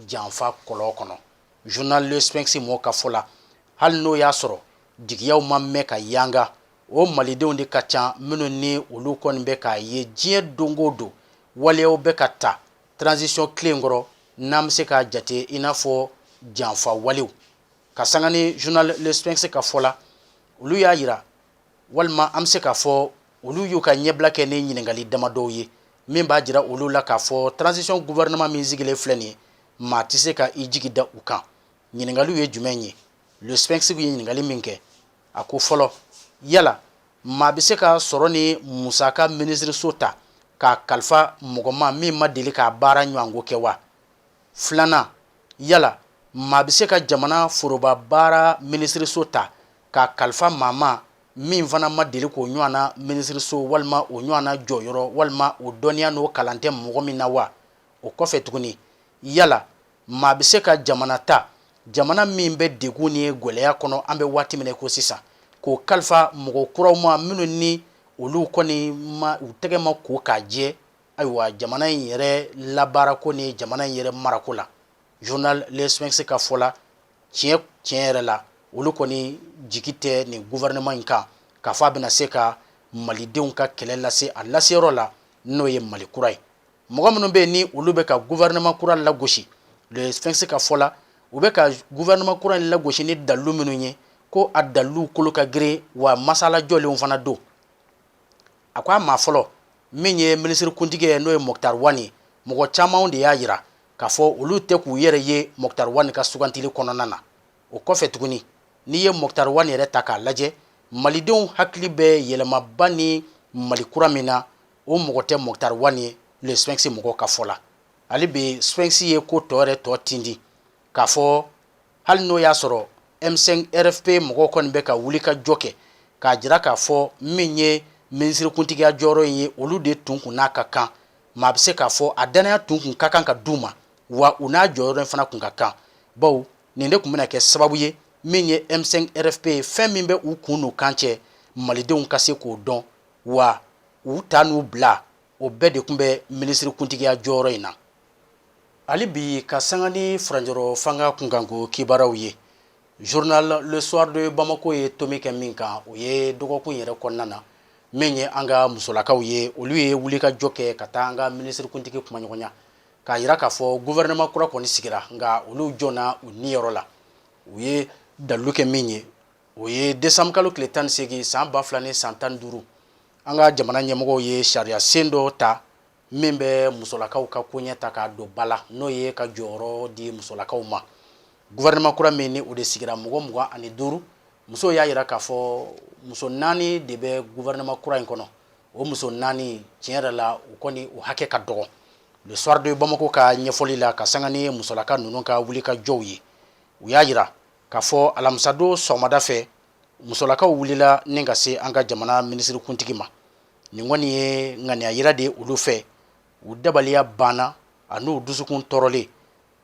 janfa kɔlɔn kɔnɔ journal le sphinx mɔgɔw ka fɔ la hali n'o y'a sɔrɔ jigiyaw ma mɛn ka yanga o malidenw de ka ca minnu ni olu kɔni bɛ k'a ye diɲɛ don o don waleyaw bɛ ka ta transition tile kɔrɔ n'an bɛ se k'a jate i n'a fɔ janfa walew ka sanga ni journal le sphinx ka fɔ la olu y'a jira walima an bɛ se k'a fɔ olu y'u ka ɲɛbila kɛ ni ɲininkali damadɔw ye min b'a jira olu la k'a fɔ transition gouvernement min sigilen filɛ nin ye maa tɛ se ka i jigi da u kan ɲininkaliw ye jumɛn ye le sphinx ye ɲininkali min kɛ a ko fɔlɔ yala maa bɛ se ka sɔrɔ ni musaka minisiriso ta k'a kalifa mɔgɔ ma min ma deli k'a baara ɲɔgɔnko kɛ wa filanan yala maa bɛ se ka jamana foroba baara minisiriso ta k'a kalifa maa ma min fana ma deli k'o ɲɔgɔnna minisiriso walima o ɲɔgɔnna jɔyɔrɔ walima o dɔnniya n'o kalan tɛ mɔgɔ min na wa o kɔfɛ tuguni yala maa bɛ se ka jamana ta jamana min bɛ degun ni gɛlɛya kɔnɔ an bɛ waati min ko sisan k'o kalifa mɔgɔ kuraw ma minnu ni olu kɔni ma u tɛgɛ ma ko k'a jɛ ayiwa jamana in yɛrɛ labaarako ni jamana in yɛrɛ marako la journal le sphinx ka fɔ la tiɲɛ tiɲɛ yɛrɛ la olu kɔni jigi tɛ nin gouvernement in kan k'a fɔ a bɛna se ka malidenw ka kɛlɛ lase a laseyɔrɔ la n'o ye mali kura ye mɔgɔ minnu bɛ yen ni olu bɛ ka gouvernement kura lagosi Le Sphinx ka fɔ la u bɛ ka gouvernement kura in lagosi ni dalilu minnu ye ko a dalilu kolo ka girin wa masala jɔlenw fana don a ko a maa fɔlɔ min ye minisiri kuntigi ye n'o ye Moctar Ouane mɔgɔ camanw de y'a jira k'a fɔ olu tɛ k'u yɛrɛ ye Moctar Ouane ka sugantili kɔnɔna na o kɔfɛ tuguni n'i ye Moctar Ouane yɛrɛ ta k'a lajɛ malidenw hakili bɛ yɛlɛmaba ni mali kura min na o mɔgɔ tɛ Moctar Ouane ye Le Sphinx mɔgɔ ka fɔ la hali bi Sphinx ye ko tɔ yɛrɛ tɔ tindi k'a fɔ hali n'o y'a sɔrɔ M5 RFP mɔgɔw kɔni bɛ ka wuli ka jɔ kɛ k'a jira k'a fɔ min ye minisiri kuntigiya jɔyɔrɔ in ye olu de tun kun n'a ka kan maa bɛ se k'a fɔ a dannaya tun kun ka kan ka d'u ma wa u n'a jɔyɔrɔ in fana kun ka kan baw nin de tun bɛna kɛ sababu ye min ye M5 RFP fɛn min bɛ u kun n'u kan cɛ malidenw ka se k'o dɔn wa u ta n'u bila o bɛɛ de tun bɛ minisiri kuntigiya jɔyɔrɔ in na hali bi ka sanga ni furanjɔrɔ fanga kunkanko kibaaraw ye journal le soir de bamako ye tomi kɛ min kan o ye dɔgɔkun yɛrɛ kɔnɔna na min ye an ka musolakaw ye olu ye wulikajɔ kɛ ka taa an ka minisiri kuntigi kumaɲɔgɔnya k'a jira k'a fɔ gouvernement kura kɔni sigira nka olu jɔnna u niyɔrɔ la u ye dalilu kɛ min ye o ye décembre kalo tile tan ni seegin san ba fila ni san tan ni duuru an ka jamana ɲɛmɔgɔw ye sariya sen dɔ ta min bɛ musolakaw ka koɲɛ ta k'a don ba la n'o ye ka jɔyɔrɔ di musolakaw ma gouvernement kura min ni o de sigira mɔgɔ mugan ani duuru musow y'a jira k'a fɔ muso naani de bɛ gouvernement kura in kɔnɔ o muso naani tiɲɛ yɛrɛ la u kɔni u hakɛ ka dɔgɔ le soir de bamako ka ɲɛfɔli la ka sanga ni musolaka ninnu ka wuli ka jɔw ye u y'a jira k'a fɔ alamisadon sɔgɔmada fɛ musolakaw wulila ni ka se an ka jamana minisiri kuntigi ma nin kɔni ye ŋaniya yira de olu fɛ u dabaliya banna an'u dusukun tɔɔrɔlen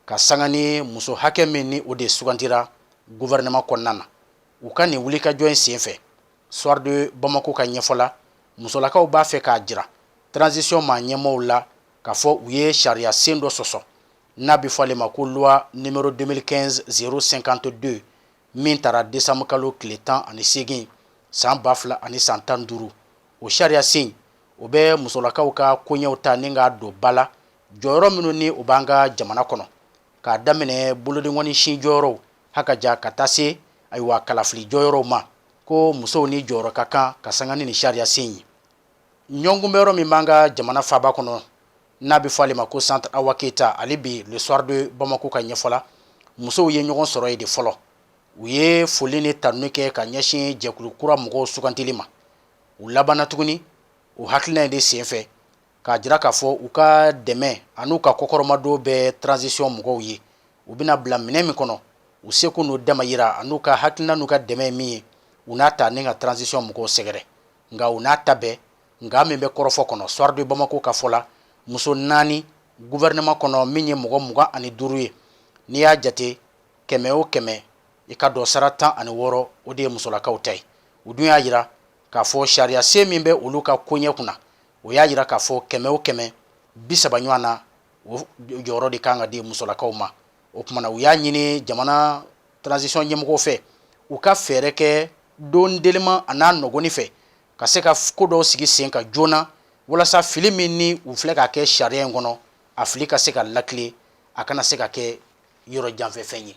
ka sanga ni muso hakɛ min ni o de sugantira gouvernement kɔnɔna na u ka nin wulikajɔ in senfɛ soir de Bamako ka ɲɛfɔ la musolakaw b'a fɛ k'a jira transition maa ɲɛmɔgɔw la k'a fɔ u ye sariya sen dɔ sɔsɔ n'a bɛ fɔ ale ma ko loi numéro 2015 052 min tara décembre kalo tile tan ani seegin san ba fila ani san tan duuru o sariya sen o bɛ musolakaw ka koɲɛw ta ni k'a don ba la jɔyɔrɔ minnu ni o b'an ka jamana kɔnɔ k'a daminɛ bolodengɔni sin jɔyɔrɔw Ha ka jan ka taa se ayiwa kalafili jɔyɔrɔw ma ko musow ni jɔyɔrɔ ka kan ka sanga ni ni sariyasen ye ɲɔgɔnkunbɛnyɔrɔ min b'an ka jamana faaba kɔnɔ n'a bɛ fɔ ale ma ko centre awa keyita ale bi le soir de bamako ka ɲɛfɔ la musow ye ɲɔgɔn sɔrɔ yen de fɔlɔ u ye foli ni tanuni kɛ ka ɲɛsin jɛkulu kura mɔgɔw sugandili ma u labanna tuguni o hakilina in de senfɛ k'a jira k'a fɔ u ka dɛmɛ an'u ka kɔkɔrɔmadon bɛ transition mɔgɔw ye u bɛna bila minɛ min kɔnɔ u seko n'u dama yira an'u ka hakilina n'u ka dɛmɛ min ye u n'a ta ni ka transition mɔgɔw sɛgɛrɛ nka u n'a ta bɛɛ nka min bɛ kɔrɔfɔ kɔnɔ soir de bamako ka fɔ la muso naani gouvernement kɔnɔ min ye mɔgɔ mugan ani duuru ye n'i y'a jate kɛmɛ o kɛmɛ i ka dɔ sara tan ani wɔɔrɔ o de ye musolakaw ta ye u dun y'a yira k'a fɔ sariya sen min bɛ olu ka koɲɛ kunna o y'a yira k'a fɔ kɛmɛ o kɛmɛ bi saba ɲɔgɔn na o jɔyɔrɔ de kan ka di musolakaw ma o kuma na u y'a ɲini jamana transition ɲɛmɔgɔw fɛ u ka fɛɛrɛ kɛ don teliman an'a nɔgɔni fɛ ka se ka ko dɔw sigi sen ka joona walasa fili min ni u filɛ k'a kɛ sariya in kɔnɔ a fili ka se ka lakile a kana se ka kɛ yɔrɔ janfɛfɛn ye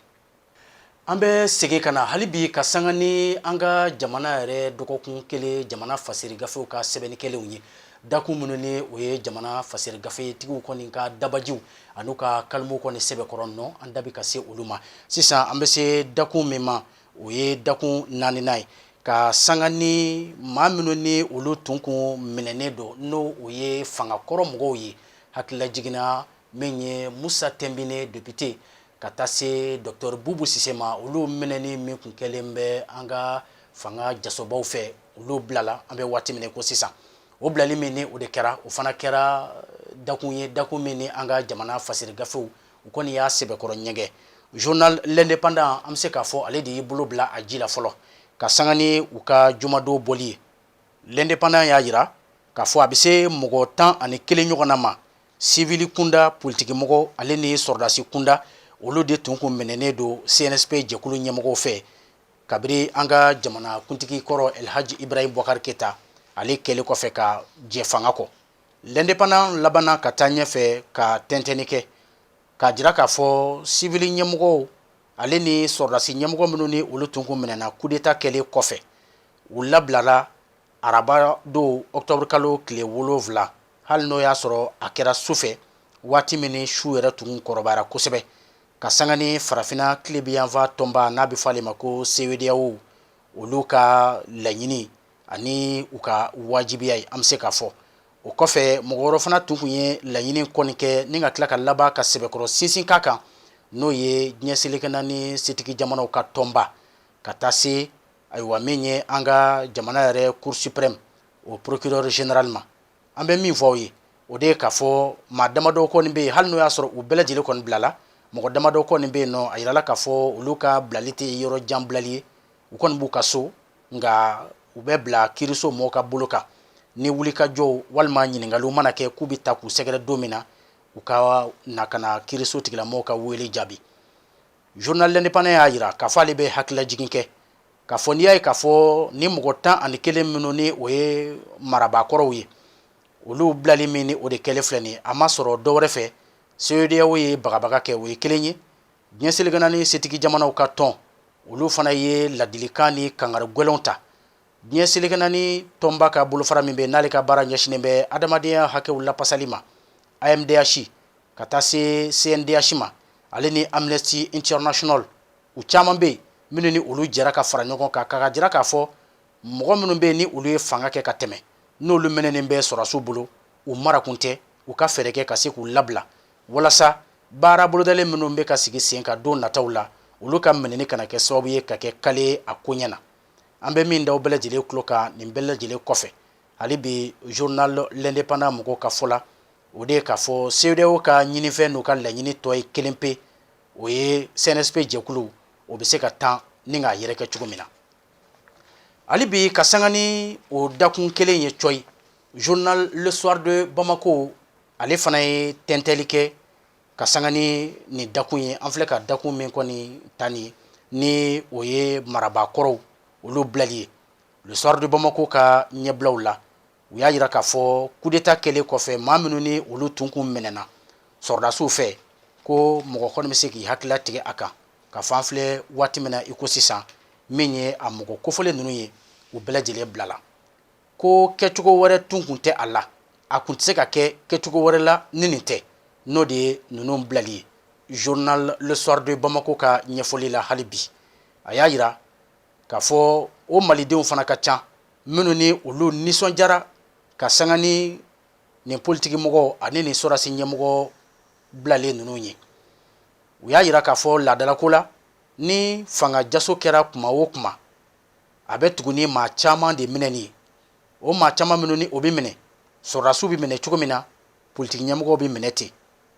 An bɛ segin ka na hali bi ka sanga ni an ka jamana yɛrɛ dɔgɔkun kelen jamana fasiri gafew ka sɛbɛnni kɛlenw ye dakun minnu ni o ye jamana fasiri gafetigiw kɔni ka dabajiw an'u ka kalimu kɔni sɛbɛkɔrɔ nɔ an da bɛ ka se olu ma sisan an bɛ se dakun min ma o ye dakun naaninan ye ka sanga ni maa minnu ni olu tun kun minɛnen don n'o o ye fanga kɔrɔ mɔgɔw ye hakililajigin na min ye musa tɛnbine depite ka taa se docteur bubu sise ma olu minɛni min kun kɛlen bɛ an ka fanga jasobaw fɛ olu bilala an bɛ waati min ko sisan o bilali min ni o de kɛra o fana kɛra dakun ye dakun min ni an ka jamana fasiri gafew u kɔni y'a sɛbɛkɔrɔ ɲɛgɛn journal l'indépendant an bɛ se k'a fɔ ale de y'i bolo bila a ji la fɔlɔ ka sanga ni u ka jumadon bɔli ye l'indépendant y'a jira k'a fɔ a bɛ se mɔgɔ tan ani kelen ɲɔgɔnna ma sivili kunda politikimɔgɔ ale ni sɔrɔdasi kunda olu de tun kun minɛnen don cnsp jɛkulu ɲɛmɔgɔw fɛ kabiri an ka jamana kuntigi kɔrɔ elhaji ibrahim bubakar keyita ale kɛlen kɔfɛ ka jɛ fanga kɔ l'indépendant labanna ka taa ɲɛfɛ ka tɛntɛnni kɛ k'a jira k'a fɔ sivili ɲɛmɔgɔw ale ni sɔrɔdasi ɲɛmɔgɔ minnu ni olu tun kun minɛna kudeta kɛlen kɔfɛ u labilala araba don octobre kalo tile wolonwula hali n'o y'a sɔrɔ a kɛra su fɛ waati min ni su yɛrɛ tun kɔrɔbara kosɛbɛ ka sanga ni farafinna tilebinyanfan tɔnba n'a bɛ fɔ ale ma ko CEDEAO olu ka laɲini ani u ka wajibiya ye an bɛ se k'a fɔ o kɔfɛ mɔgɔ wɛrɛ fana tun kun ye laɲini kɔni kɛ ni ka tila ka laban ka sɛbɛkɔrɔ sinsin ka kan n'o ye diɲɛ seleke naani setigi jamanaw ka tɔnba ka taa se ayiwa min ye an ka jamana yɛrɛ cour suprême o procureur général ma an bɛ min fɔ aw ye o de ye k'a fɔ maa damadɔ kɔni bɛ yen hali n'o y'a sɔrɔ u bɛɛ lajɛlen kɔni bilala mɔgɔ damadɔ kɔni bɛ yen nɔ a jirala k'a fɔ olu ka bilali tɛ yɔrɔ jan bilali ye u kɔni b'u ka so nka u bɛ bila kiiriso mɔgɔw ka bolo kan ni wulikajɔw walima ɲininkaliw mana kɛ k'u bɛ ta k'u sɛgɛrɛ don min na u ka na ka na kiiriso tigilamɔgɔw ka wele jaabi journal l'indépendant y'a jira k'a fɔ ale bɛ hakililajigin kɛ k'a fɔ n'i y'a ye k'a fɔ ni mɔgɔ tan ani kelen minnu ni o ye marabakɔrɔw ye olu bilali min ni o de kɛlen filɛ nin a ma sɔrɔ dɔ wɛrɛ fɛ CEDEAO ye bagabaga kɛ o ye kelen ye diɲɛ seleke naani setigi jamanaw ka tɔn olu fana ye ladilikan ni kangari gɛlɛnw ta diɲɛ seleke naani tɔnba ka bolofara min bɛ n'ale ka baara ɲɛsinnen bɛ adamadenya hakɛw lapasali ma AMDH ka taa se CNDH ma ale ni Amnesty International u caman bɛ yen minnu ni olu jɛra ka fara ɲɔgɔn kan k'a jira k'a fɔ mɔgɔ minnu bɛ yen ni olu ye fanga kɛ ka tɛmɛ n'olu minɛnen bɛ sɔrɔdasiw bolo u marakun tɛ u ka fɛɛrɛ kɛ ka se k'u labila walasa baara bolodalen minnu bɛ ka sigi senkan don nataw la olu ka minɛni kana kɛ sababu ye ka kɛ kale a ko ɲɛ na an bɛ min da aw bɛɛ lajɛlen tulo kan nin bɛɛ lajɛlen kɔfɛ hali bi journal l'indépendant mɔgɔw ka fɔ la o de ye k'a fɔ CEDEAO ka ɲinifɛn n'u ka laɲini tɔ ye kelen pe o ye CNSP jɛkulu o bɛ se ka tan ni k'a yɛrɛkɛ cogo min na hali bi ka sanga ni o dakun kelen ye coyi journal le soir de bamako ale fana ye tɛntɛli kɛ ka sanga ni nin dakun ye an filɛ ka dakun min kɔni ta nin ni o ye marabaa kɔrɔw olu bilali ye le soir de bamako ka ɲɛbilaw la u y'a jira k'a fɔ kudeta kɛlen kɔfɛ maa minnu ni olu tun kun minɛna sɔrɔdasiw fɛ ko mɔgɔ kɔni bɛ se k'i hakilila tigɛ a kan ka fan filɛ waati min na i ko sisan min ye a mɔgɔ kofɔlen ninnu ye u bɛɛ lajɛlen bilala ko kɛcogo wɛrɛ tun kun tɛ a la a kun tɛ se ka kɛ kɛcogo wɛrɛ la ni nin tɛ n'o de ye ninnu bilali ye journal le soir de bamako ka ɲɛfɔli la hali bi a y'a jira k'a fɔ o malidenw fana ka ca minnu ni olu nisɔndiyara ka sanga ni nin politikimɔgɔw ani nin sɔrɔdasi ɲɛmɔgɔ bilalen ninnu ye u y'a jira k'a fɔ laadalako la ni fanga jaso kɛra kuma o kuma a bɛ tugu ni maa caman de minɛni ye o maa caman minnu ni o bɛ minɛ sɔrɔdasiw bɛ minɛ cogo min na politiki ɲɛmɔgɔw bɛ minɛ ten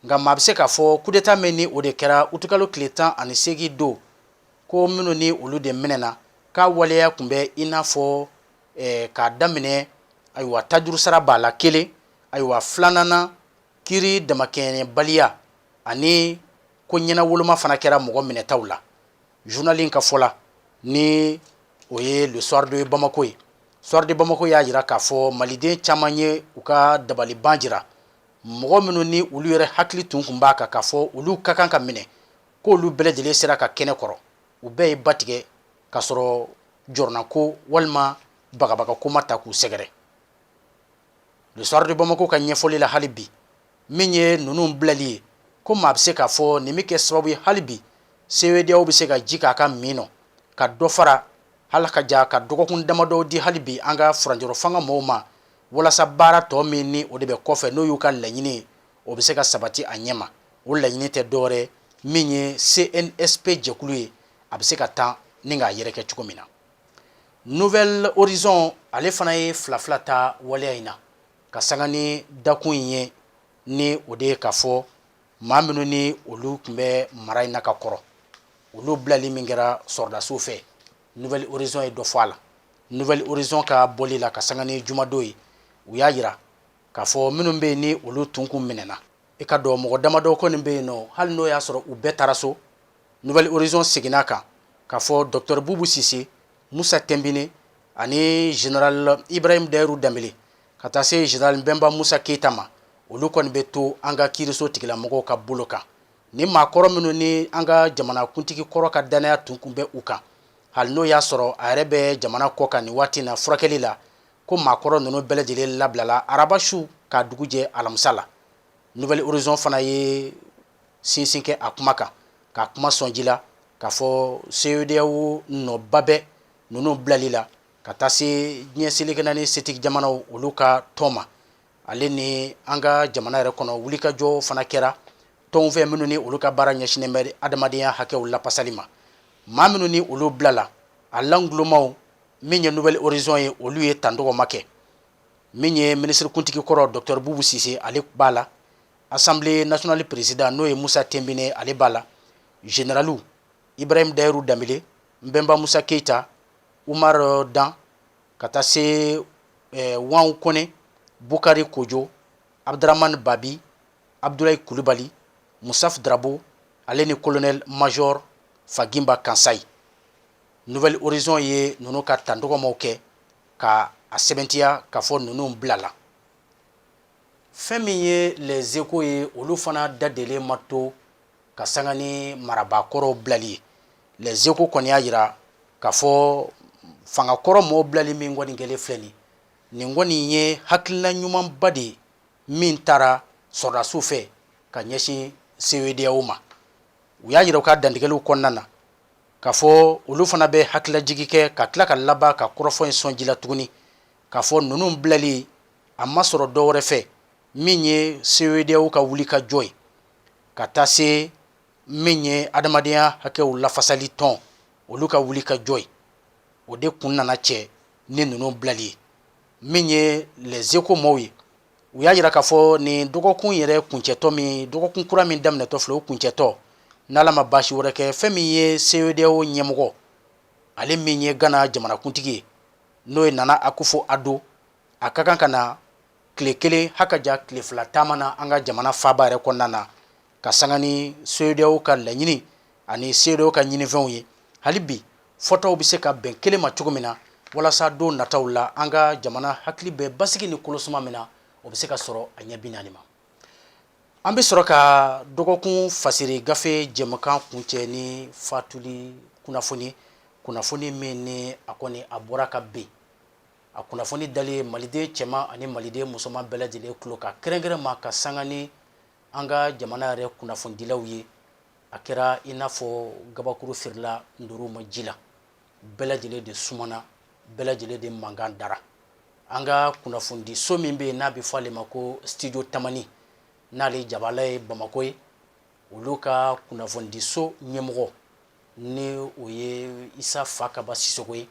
nka maa bɛ se k'a fɔ kudeta min ni o de kɛra utikalo tile tan ani seegin don ko minnu ni olu de minɛna k'a waleya tun bɛ i n'a fɔ k'a daminɛ ayiwa tajurusara b'a la kelen ayiwa filanan kiiri damakɛɲɛbaliya ani ko ɲɛnawoloma fana kɛra mɔgɔ minɛtaw la zurunali in ka fɔ la ni o ye le soir de bamako ye soir de bamako y'a jira k'a fɔ maliden caman ye u ka dabaliban jira mɔgɔ minnu ni olu yɛrɛ hakili tun kun b'a kan k'a fɔ olu ka kan ka minɛ ko olu bɛɛ lajɛlen sera ka kɛnɛ kɔrɔ u bɛɛ ye ba tigɛ k'a sɔrɔ jɔrɔnako walima bagabagako ma ta k'u sɛgɛrɛ le soir de bamako ka ɲɛfɔli la hali bi min ye ninnu bilali ye ko maa bɛ se k'a fɔ nin bɛ kɛ sababu ye hali bi cedeao bɛ se ka ji k'a ka min nɔ ka dɔ fara hali ka ja ka dɔgɔkun damadɔ di hali bi an ka furancɛrɔ fanga mɔgɔw ma walasa baara tɔ min ni o de bɛ kɔfɛ n'o y'u ka laɲini ye o bɛ se ka sabati a ɲɛma o laɲini tɛ dɔwɛrɛ min ye cnsp jɛkulu ye a bɛ se ka taa ni k'a yɛrɛ kɛ cogo min na nouvel horizon ale fana ye fila fila ta waleya in na ka sanga ni dakun in ye ni o de ye k'a fɔ maa minnu ni olu tun bɛ mara in na ka kɔrɔ olu bilali min kɛra sɔrɔdasiw fɛ nouvel horizon ye dɔ fɔ a la nouvel horizon ka bɔli la ka sanga ni jumadon ye u y'a jira K'a fɔ minnu bɛ yen ni olu tun kun minɛna, i k'a dɔn mɔgɔ damadɔ kɔni bɛ yen nɔ, hali n'o y'a sɔrɔ u bɛɛ taara so, Nouvel Horizon seginna a kan k'a fɔ Docteur Boubou Cissé, Moussa Timbiné ani General Ibrahim Dahirou Dembele ka taa se General Mbemba Moussa Keita ma, olu kɔni bɛ to an ka kiiriso tigilamɔgɔw ka bolo kan. Nin maakɔrɔ minnu ni an ka jamanakuntigi kɔrɔ ka dannaya tun kun bɛ u kan, hali n'o y'a sɔrɔ a yɛrɛ bɛ jamana kɔkan nin waati in na furakɛli la, ko maakɔrɔ ninnu bɛɛ lajɛlen labilala araba su k'a dugu jɛ alamisa la nouvel horizon fana ye sinsin kɛ a kuma kan k'a kuma sɔnji la k'a fɔ CEDEAO nɔba bɛ ninnu bilali la ka taa se diɲɛ seleke naani setigi jamanaw olu ka tɔn ma ale ni an ka jamana yɛrɛ kɔnɔ wulikajɔ fana kɛra tɔnw fɛ minnu ni olu ka baara ɲɛsinnen bɛ adamadenya hakɛw lapasali ma maa minnu ni olu bilala a langulomaw min ye nouvel horizon ye olu ye tan dɔgɔma kɛ min ye minisirikuntigi kɔrɔ docteur bubu sise ale b'a la assemblée nationale président n'o ye musa tenbine ale b'a la généraliw ibrahim dahiru danbele nbɛnba musa keita umar euh, dan ka taa se eh, wahun kone bukari kojo abduraman babi abdulayi kulubali musaf darabo ale ni colonel major fagimba kansayi nouvel horizon ye ninnu ka tandɔgɔmaw kɛ ka a sɛbɛntiya k'a fɔ ninnu bilala fɛn min ye les échos ye olu fana da delen ma to ka sanga ni marabakɔrɔw bilali ye les échos kɔni y'a yira k'a fɔ fangakɔrɔ mɔɔ bilali min kɔni kɛlen filɛ nin nin kɔni ye hakilina ɲumanba de ye min taara sɔrɔdasiw fɛ ka ɲɛsin CEDEAO ma u y'a yira u ka dantigɛliw kɔnɔna na K'a fɔ olu fana bɛ hakililajigin kɛ ka tila ka laban ka kɔrɔfɔ in sɔn ji la tuguni k'a fɔ ninnu bilali a ma sɔrɔ dɔ wɛrɛ fɛ min ye CEDEAO ka wuli ka jɔ ye ka taa se min ye adamadenya hakɛw lafasali tɔn olu ka wuli ka jɔ ye o de kun nana cɛ ni ninnu bilali ye min ye les échos mɔɔw ye u y'a yira k'a fɔ nin dɔgɔkun yɛrɛ kuncɛtɔ min dɔgɔkun kura min daminɛtɔ filɛ o kuncɛtɔ n'ala ma baasi wɛrɛ kɛ fɛn min ye CEDEAO ɲɛmɔgɔ ale min ye Ghana jamanakuntigi ye n'o ye Nana Akufo Addo a ka kan ka na tile kelen hakaja tile fila taama na an ka jamana faaba yɛrɛ kɔnɔna na ka sanga ni CEDEAO ka laɲini ani CEDEAO ka ɲinifɛnw ye hali bi fɔtaw bɛ se ka bɛn kelen ma cogo min na walasa don nataw la an ka jamana hakili bɛ basigi ni kolosuma min na o bɛ se ka sɔrɔ a ɲɛ bi naani ma an bɛ sɔrɔ ka dɔgɔkun fasiri gafe jɛmukan kuncɛ ni fatuli kunnafoni kunnafoni min ni a kɔni a bɔra ka bin a kunnafoni dalen maliden cɛman ani maliden musoman bɛɛ lajɛlen tulo kan kɛrɛnkɛrɛn ma ka sanga ni an ka jamana yɛrɛ kunnafonidilaw ye a kɛra i n'a fɔ gabakuru firila ntoriw ma ji la bɛɛ lajɛlen de sumana bɛɛ lajɛlen de mankan dara an ka kunnafonidi so min bɛ yen n'a bɛ fɔ ale ma ko studio tamani n'ale jabala ye bamakɔ ye olu ka kunnafonidi so ɲɛmɔgɔ ni o ye isa fakaba sisɔkɔ ye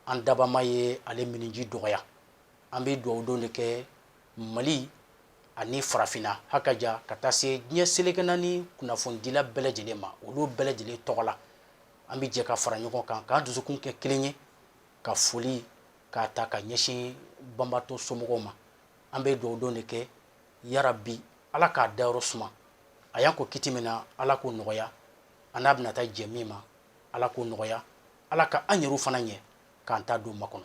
an dabaa ma ye ale minniji dɔgɔya an bɛ dugawu don de kɛ mali ani farafinna ha ka ja ka taa se diɲɛ seleke naani kunnafonidila bɛɛ lajɛlen ma olu bɛɛ lajɛlen tɔgɔ la an bɛ jɛ ka fara ɲɔgɔn kan k'an dusukun kɛ kelen ye ka foli k'a ta ka ɲɛsin banbaatɔ somɔgɔw ma an bɛ dugawu don de kɛ yarabi ala k'a dayɔrɔ suma a y'an kɔn kiti min na ala k'o nɔgɔya an n'a bɛna taa jɛ min ma ala k'o nɔgɔya ala ka an yɛrɛw fana ɲɛ k'an ta don makɔnɔ